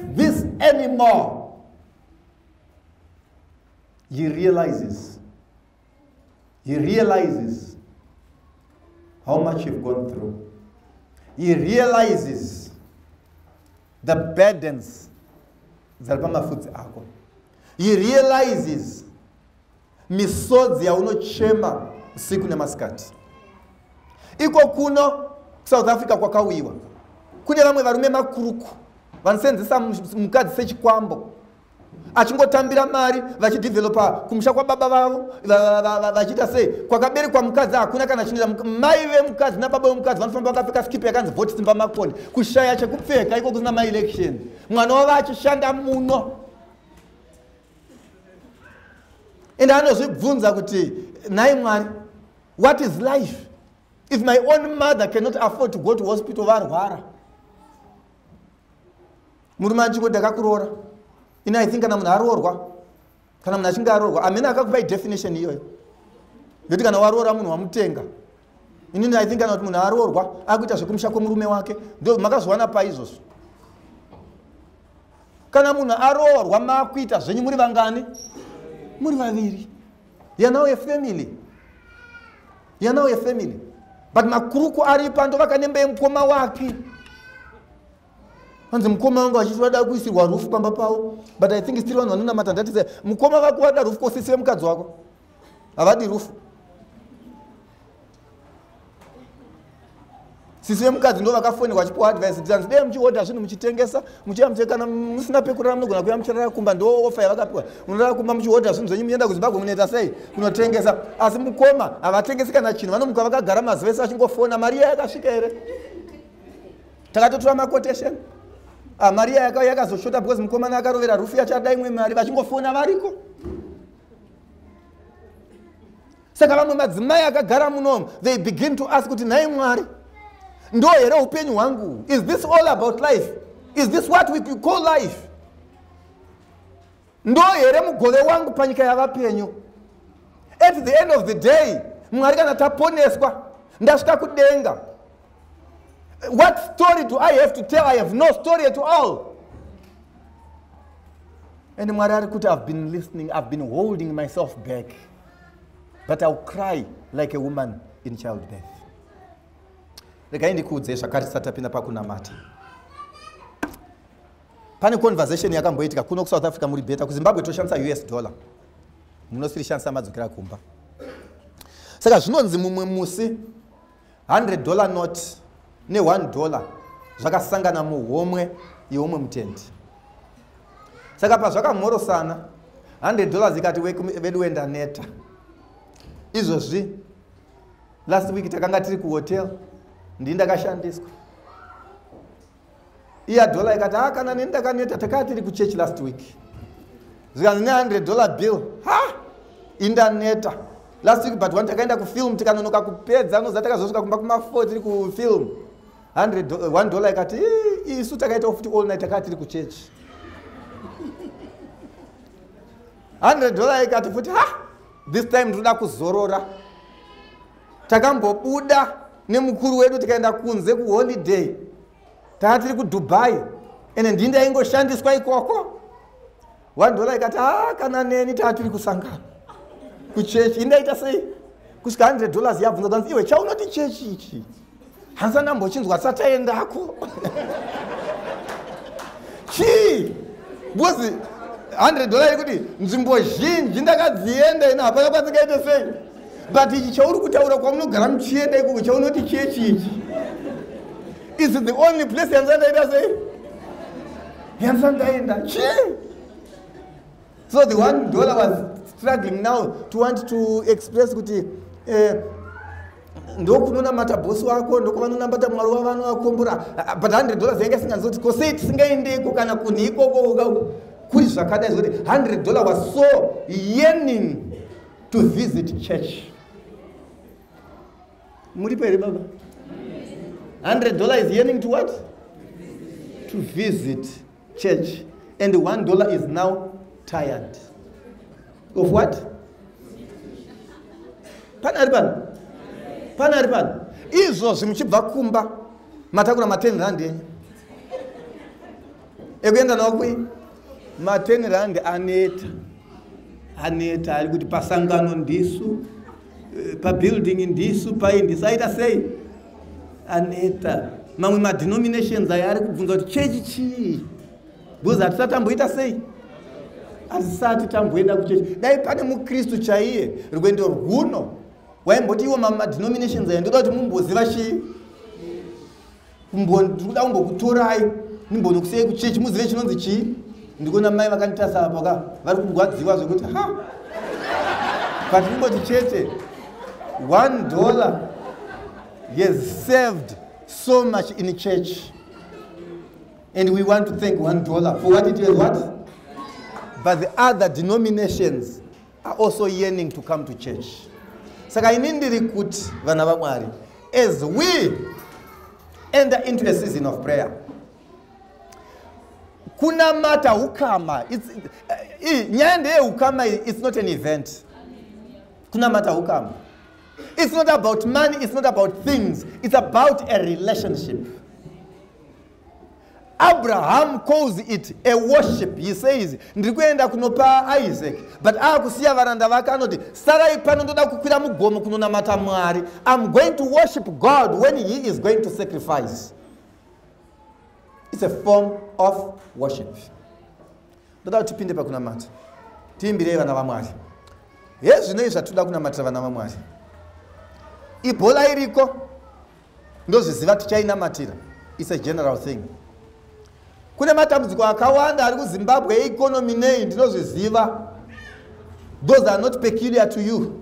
this anymore. He realizes, he realizes how much you've gone through. He realizes the burdens dzari pamafudzi ako. He realizes misodzi yaunochema usiku nemasikati iko kuno kusouth africa kwakauyiwa kune vamwe varume makuruku vanosenzesa mukadzi sechikwambo achingotambira mari vachidevelopa kumusha kwababa vavo vachiita sei kwakaberekwa mukadzi hakuna kana chinoita mai vemukadzi nababa vemukadzi vanofamba vakapfeka skipe yakanzi voti simba makoni kushaya chekupfeka iko kusina maelection mwana wavo achishanda muno ende anozvibvunza kuti nhai mwari what is life if my own mother cannot afford to go to hospital varwara murume anchiko ndakakuroora ini i think kana munhu aroorwa kana munhu achinge aroorwa amene akakupai definition iyoyo yoti kana waroora munhu wamutenga inini i think kana kuti munhu aroorwa akuita zvekumusha kwemurume wake ndo makazowana pai izvozvo kana munhu aroorwa makuita zvenyu muri vangani muri vaviri yanawo yefamily yanawo yefamily but makuruku ari pando vakanembe mukoma wake hanzi mukoma wangu vachiti vada kuisirwa rufu pamba pavo but i think still vanhu vanonamata ndati mukoma vako vada rufu kosisire mukadzi wako havadi rufu sisi vemukadzi ndo vakafonera vachipiwa advice kuti anzi dei muchihodha zvinhu muchitengesa muchiya muche kana musina pekurara munogona kuya muchirara kumba ndo ofa yavakapiwa munorara kumba muchihodha zvinhu zvenyu muenda kuzimbabwe munoita sei kunotengesa asi mukoma havatengesi kana chinhu vanomuka vakagara mazuva ese vachingofona mari iya yakasvika here takatotora maquotation ah, mari iya yakazoshota because mukomana akarovera rufu yachada imwe mari vachingofona variko saka vamwe madzimai akagara munomo they begin to ask kuti nhai mwari ndo here upenyu hwangu is this all about life is this what we call life ndo here mugove wangu panyika yavapenyu at the end of the day mwari kana taponeswa ndasvika kudenga What story do I have to tell? I have no story at all. And Mwari ari kuti I've been listening, I've been holding myself back. But I'll cry like a woman in childbirth. Regai ndikuudze zvakare tisati tapinda pakunamata. Pane conversation yakamboitika kuno kuSouth Africa muri better kuZimbabwe toshandisa US dollar. Munosiri shandisa madzokera kumba. Saka zvinonzi mumwe musi 100 dollar not ne 1 dollar zvakasangana muhomwe yeumwe mutendi saka pazvakamhorosana 100 dollars ikati vedu wenda neta izvozvi last week takanga tiri kuhotel ndii ndakashandiswa iya dollar ikati ha ah, kana neni ndakaneta takaa tiri kuchurch last week zvikanzi ne 100 dollar bill ha indaneta last week but one takaenda kufilm tikanonoka kupedza noza takazosvika kumba kuma4 tiri kufilm 1 dollar ikati isu takaitawo futi all night takaa tiri kuchurch 100 dollar ikati futi ha this time ndinoda kuzorora takambobuda nemukuru wedu tikaenda kunze kuholiday tanga tiri kudubai ende ndii ndaingoshandiswa ikoko one dollar ikati ha ah, kana neni taa tiri kusangana kuchechi indaita sei kusvika 100 dollars yabvunza kanzi iwe chaunoti chechi ichi hanzi andambochinzwa asati aendako chii because 100 dollar yekuti nzvimbo zhinji ndakadzienda ino hapaka patsikaite sei but ichi chauri kutaura kwamunogara muchienda ikoko chaunoti chechi ichi is the only place yanzi andaita sei yanzi andaenda chii so the one dollar was struggling now to want to express kuti eh, ndokunonamata bosi wako ndokovanonambata mwari wavano vakombora ah, but 100 dollars yanga isingazoti ko sei tisingaendeko kana kunhi ikoko kuri zvakadai zvokuti 100 dollar was so yearning to visit church muripo here baba 100 dollar is yearning to what to visit church and one dollar is now tired of what pane ari pano pane ari pano izvozvi muchibva kumba matakura maten rand enyu ekuenda nawo kui maten rand aneta aneta ari kuti pasangano ndisu eh, pabuilding ndisu pai ndisu aita sei aneta mamwe madenominations ayo ari kubvunza kuti chechi chii because hatisati tamboita sei hatisati tamboenda kuchechi dai pane mukristu chaiye rwendo rwuno waimboti iwo mamwe madenominations ayo ndoda kuti mumboziva chii ndikuda kumbokutorai nimbonokusei kuchechi muzive chinonzi chii ndikuona mai vakanditarisa apa ka vari kurwadziwa zvekuti ha but ndingoti chete one dollar has served so much in church and we want to thank one dollar for what it has what but the other denominations are also yearning to come to church saka ini ndiri kuti vana vamwari as we enter into a season of prayer kunamata hukama eh, eh, nyaya ndeyehukama it's not an event kunamata hukama it's not about money it's not about things it's about a relationship abraham calls it a worship he says ndiri kuenda kunopa isaac but akusiya varanda vake anoti sarai pano ndoda kukwira mugomo kunonamata mwari im going to worship god when he is going to sacrifice its a form of worship ndoda kuti tipinde pakunamata tiimbirei vana vamwari hezvinei zvatoda kunamatira vana vamwari ibhola iriko ndozviziva tichainamatira its a general thing kune matambudziko akawanda ari kuzimbabwe eekonomi nei ndinozviziva those are not peculiar to you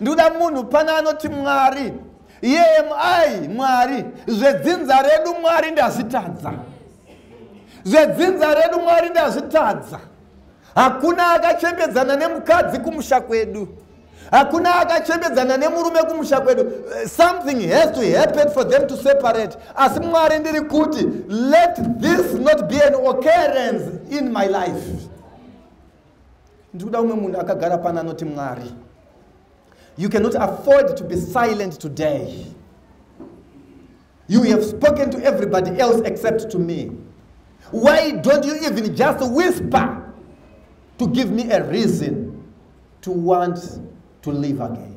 ndikuda munhu pana anoti mwari yemi mwari zvedzinza redu mwari ndazvitadza zvedzinza redu mwari ndazvitadza hakuna akachembedzana nemukadzi kumusha kwedu hakuna akachembedzana nemurume kumusha kwedu eh, something has to happen for them to separate asi mwari ndiri kuti let this not be an occurrence in my life ndiri kuda umwe munhu akagara pano anoti mwari you cannot afford to be silent today you have spoken to everybody else except to me why don't you even just whisper to give me a reason to want to live again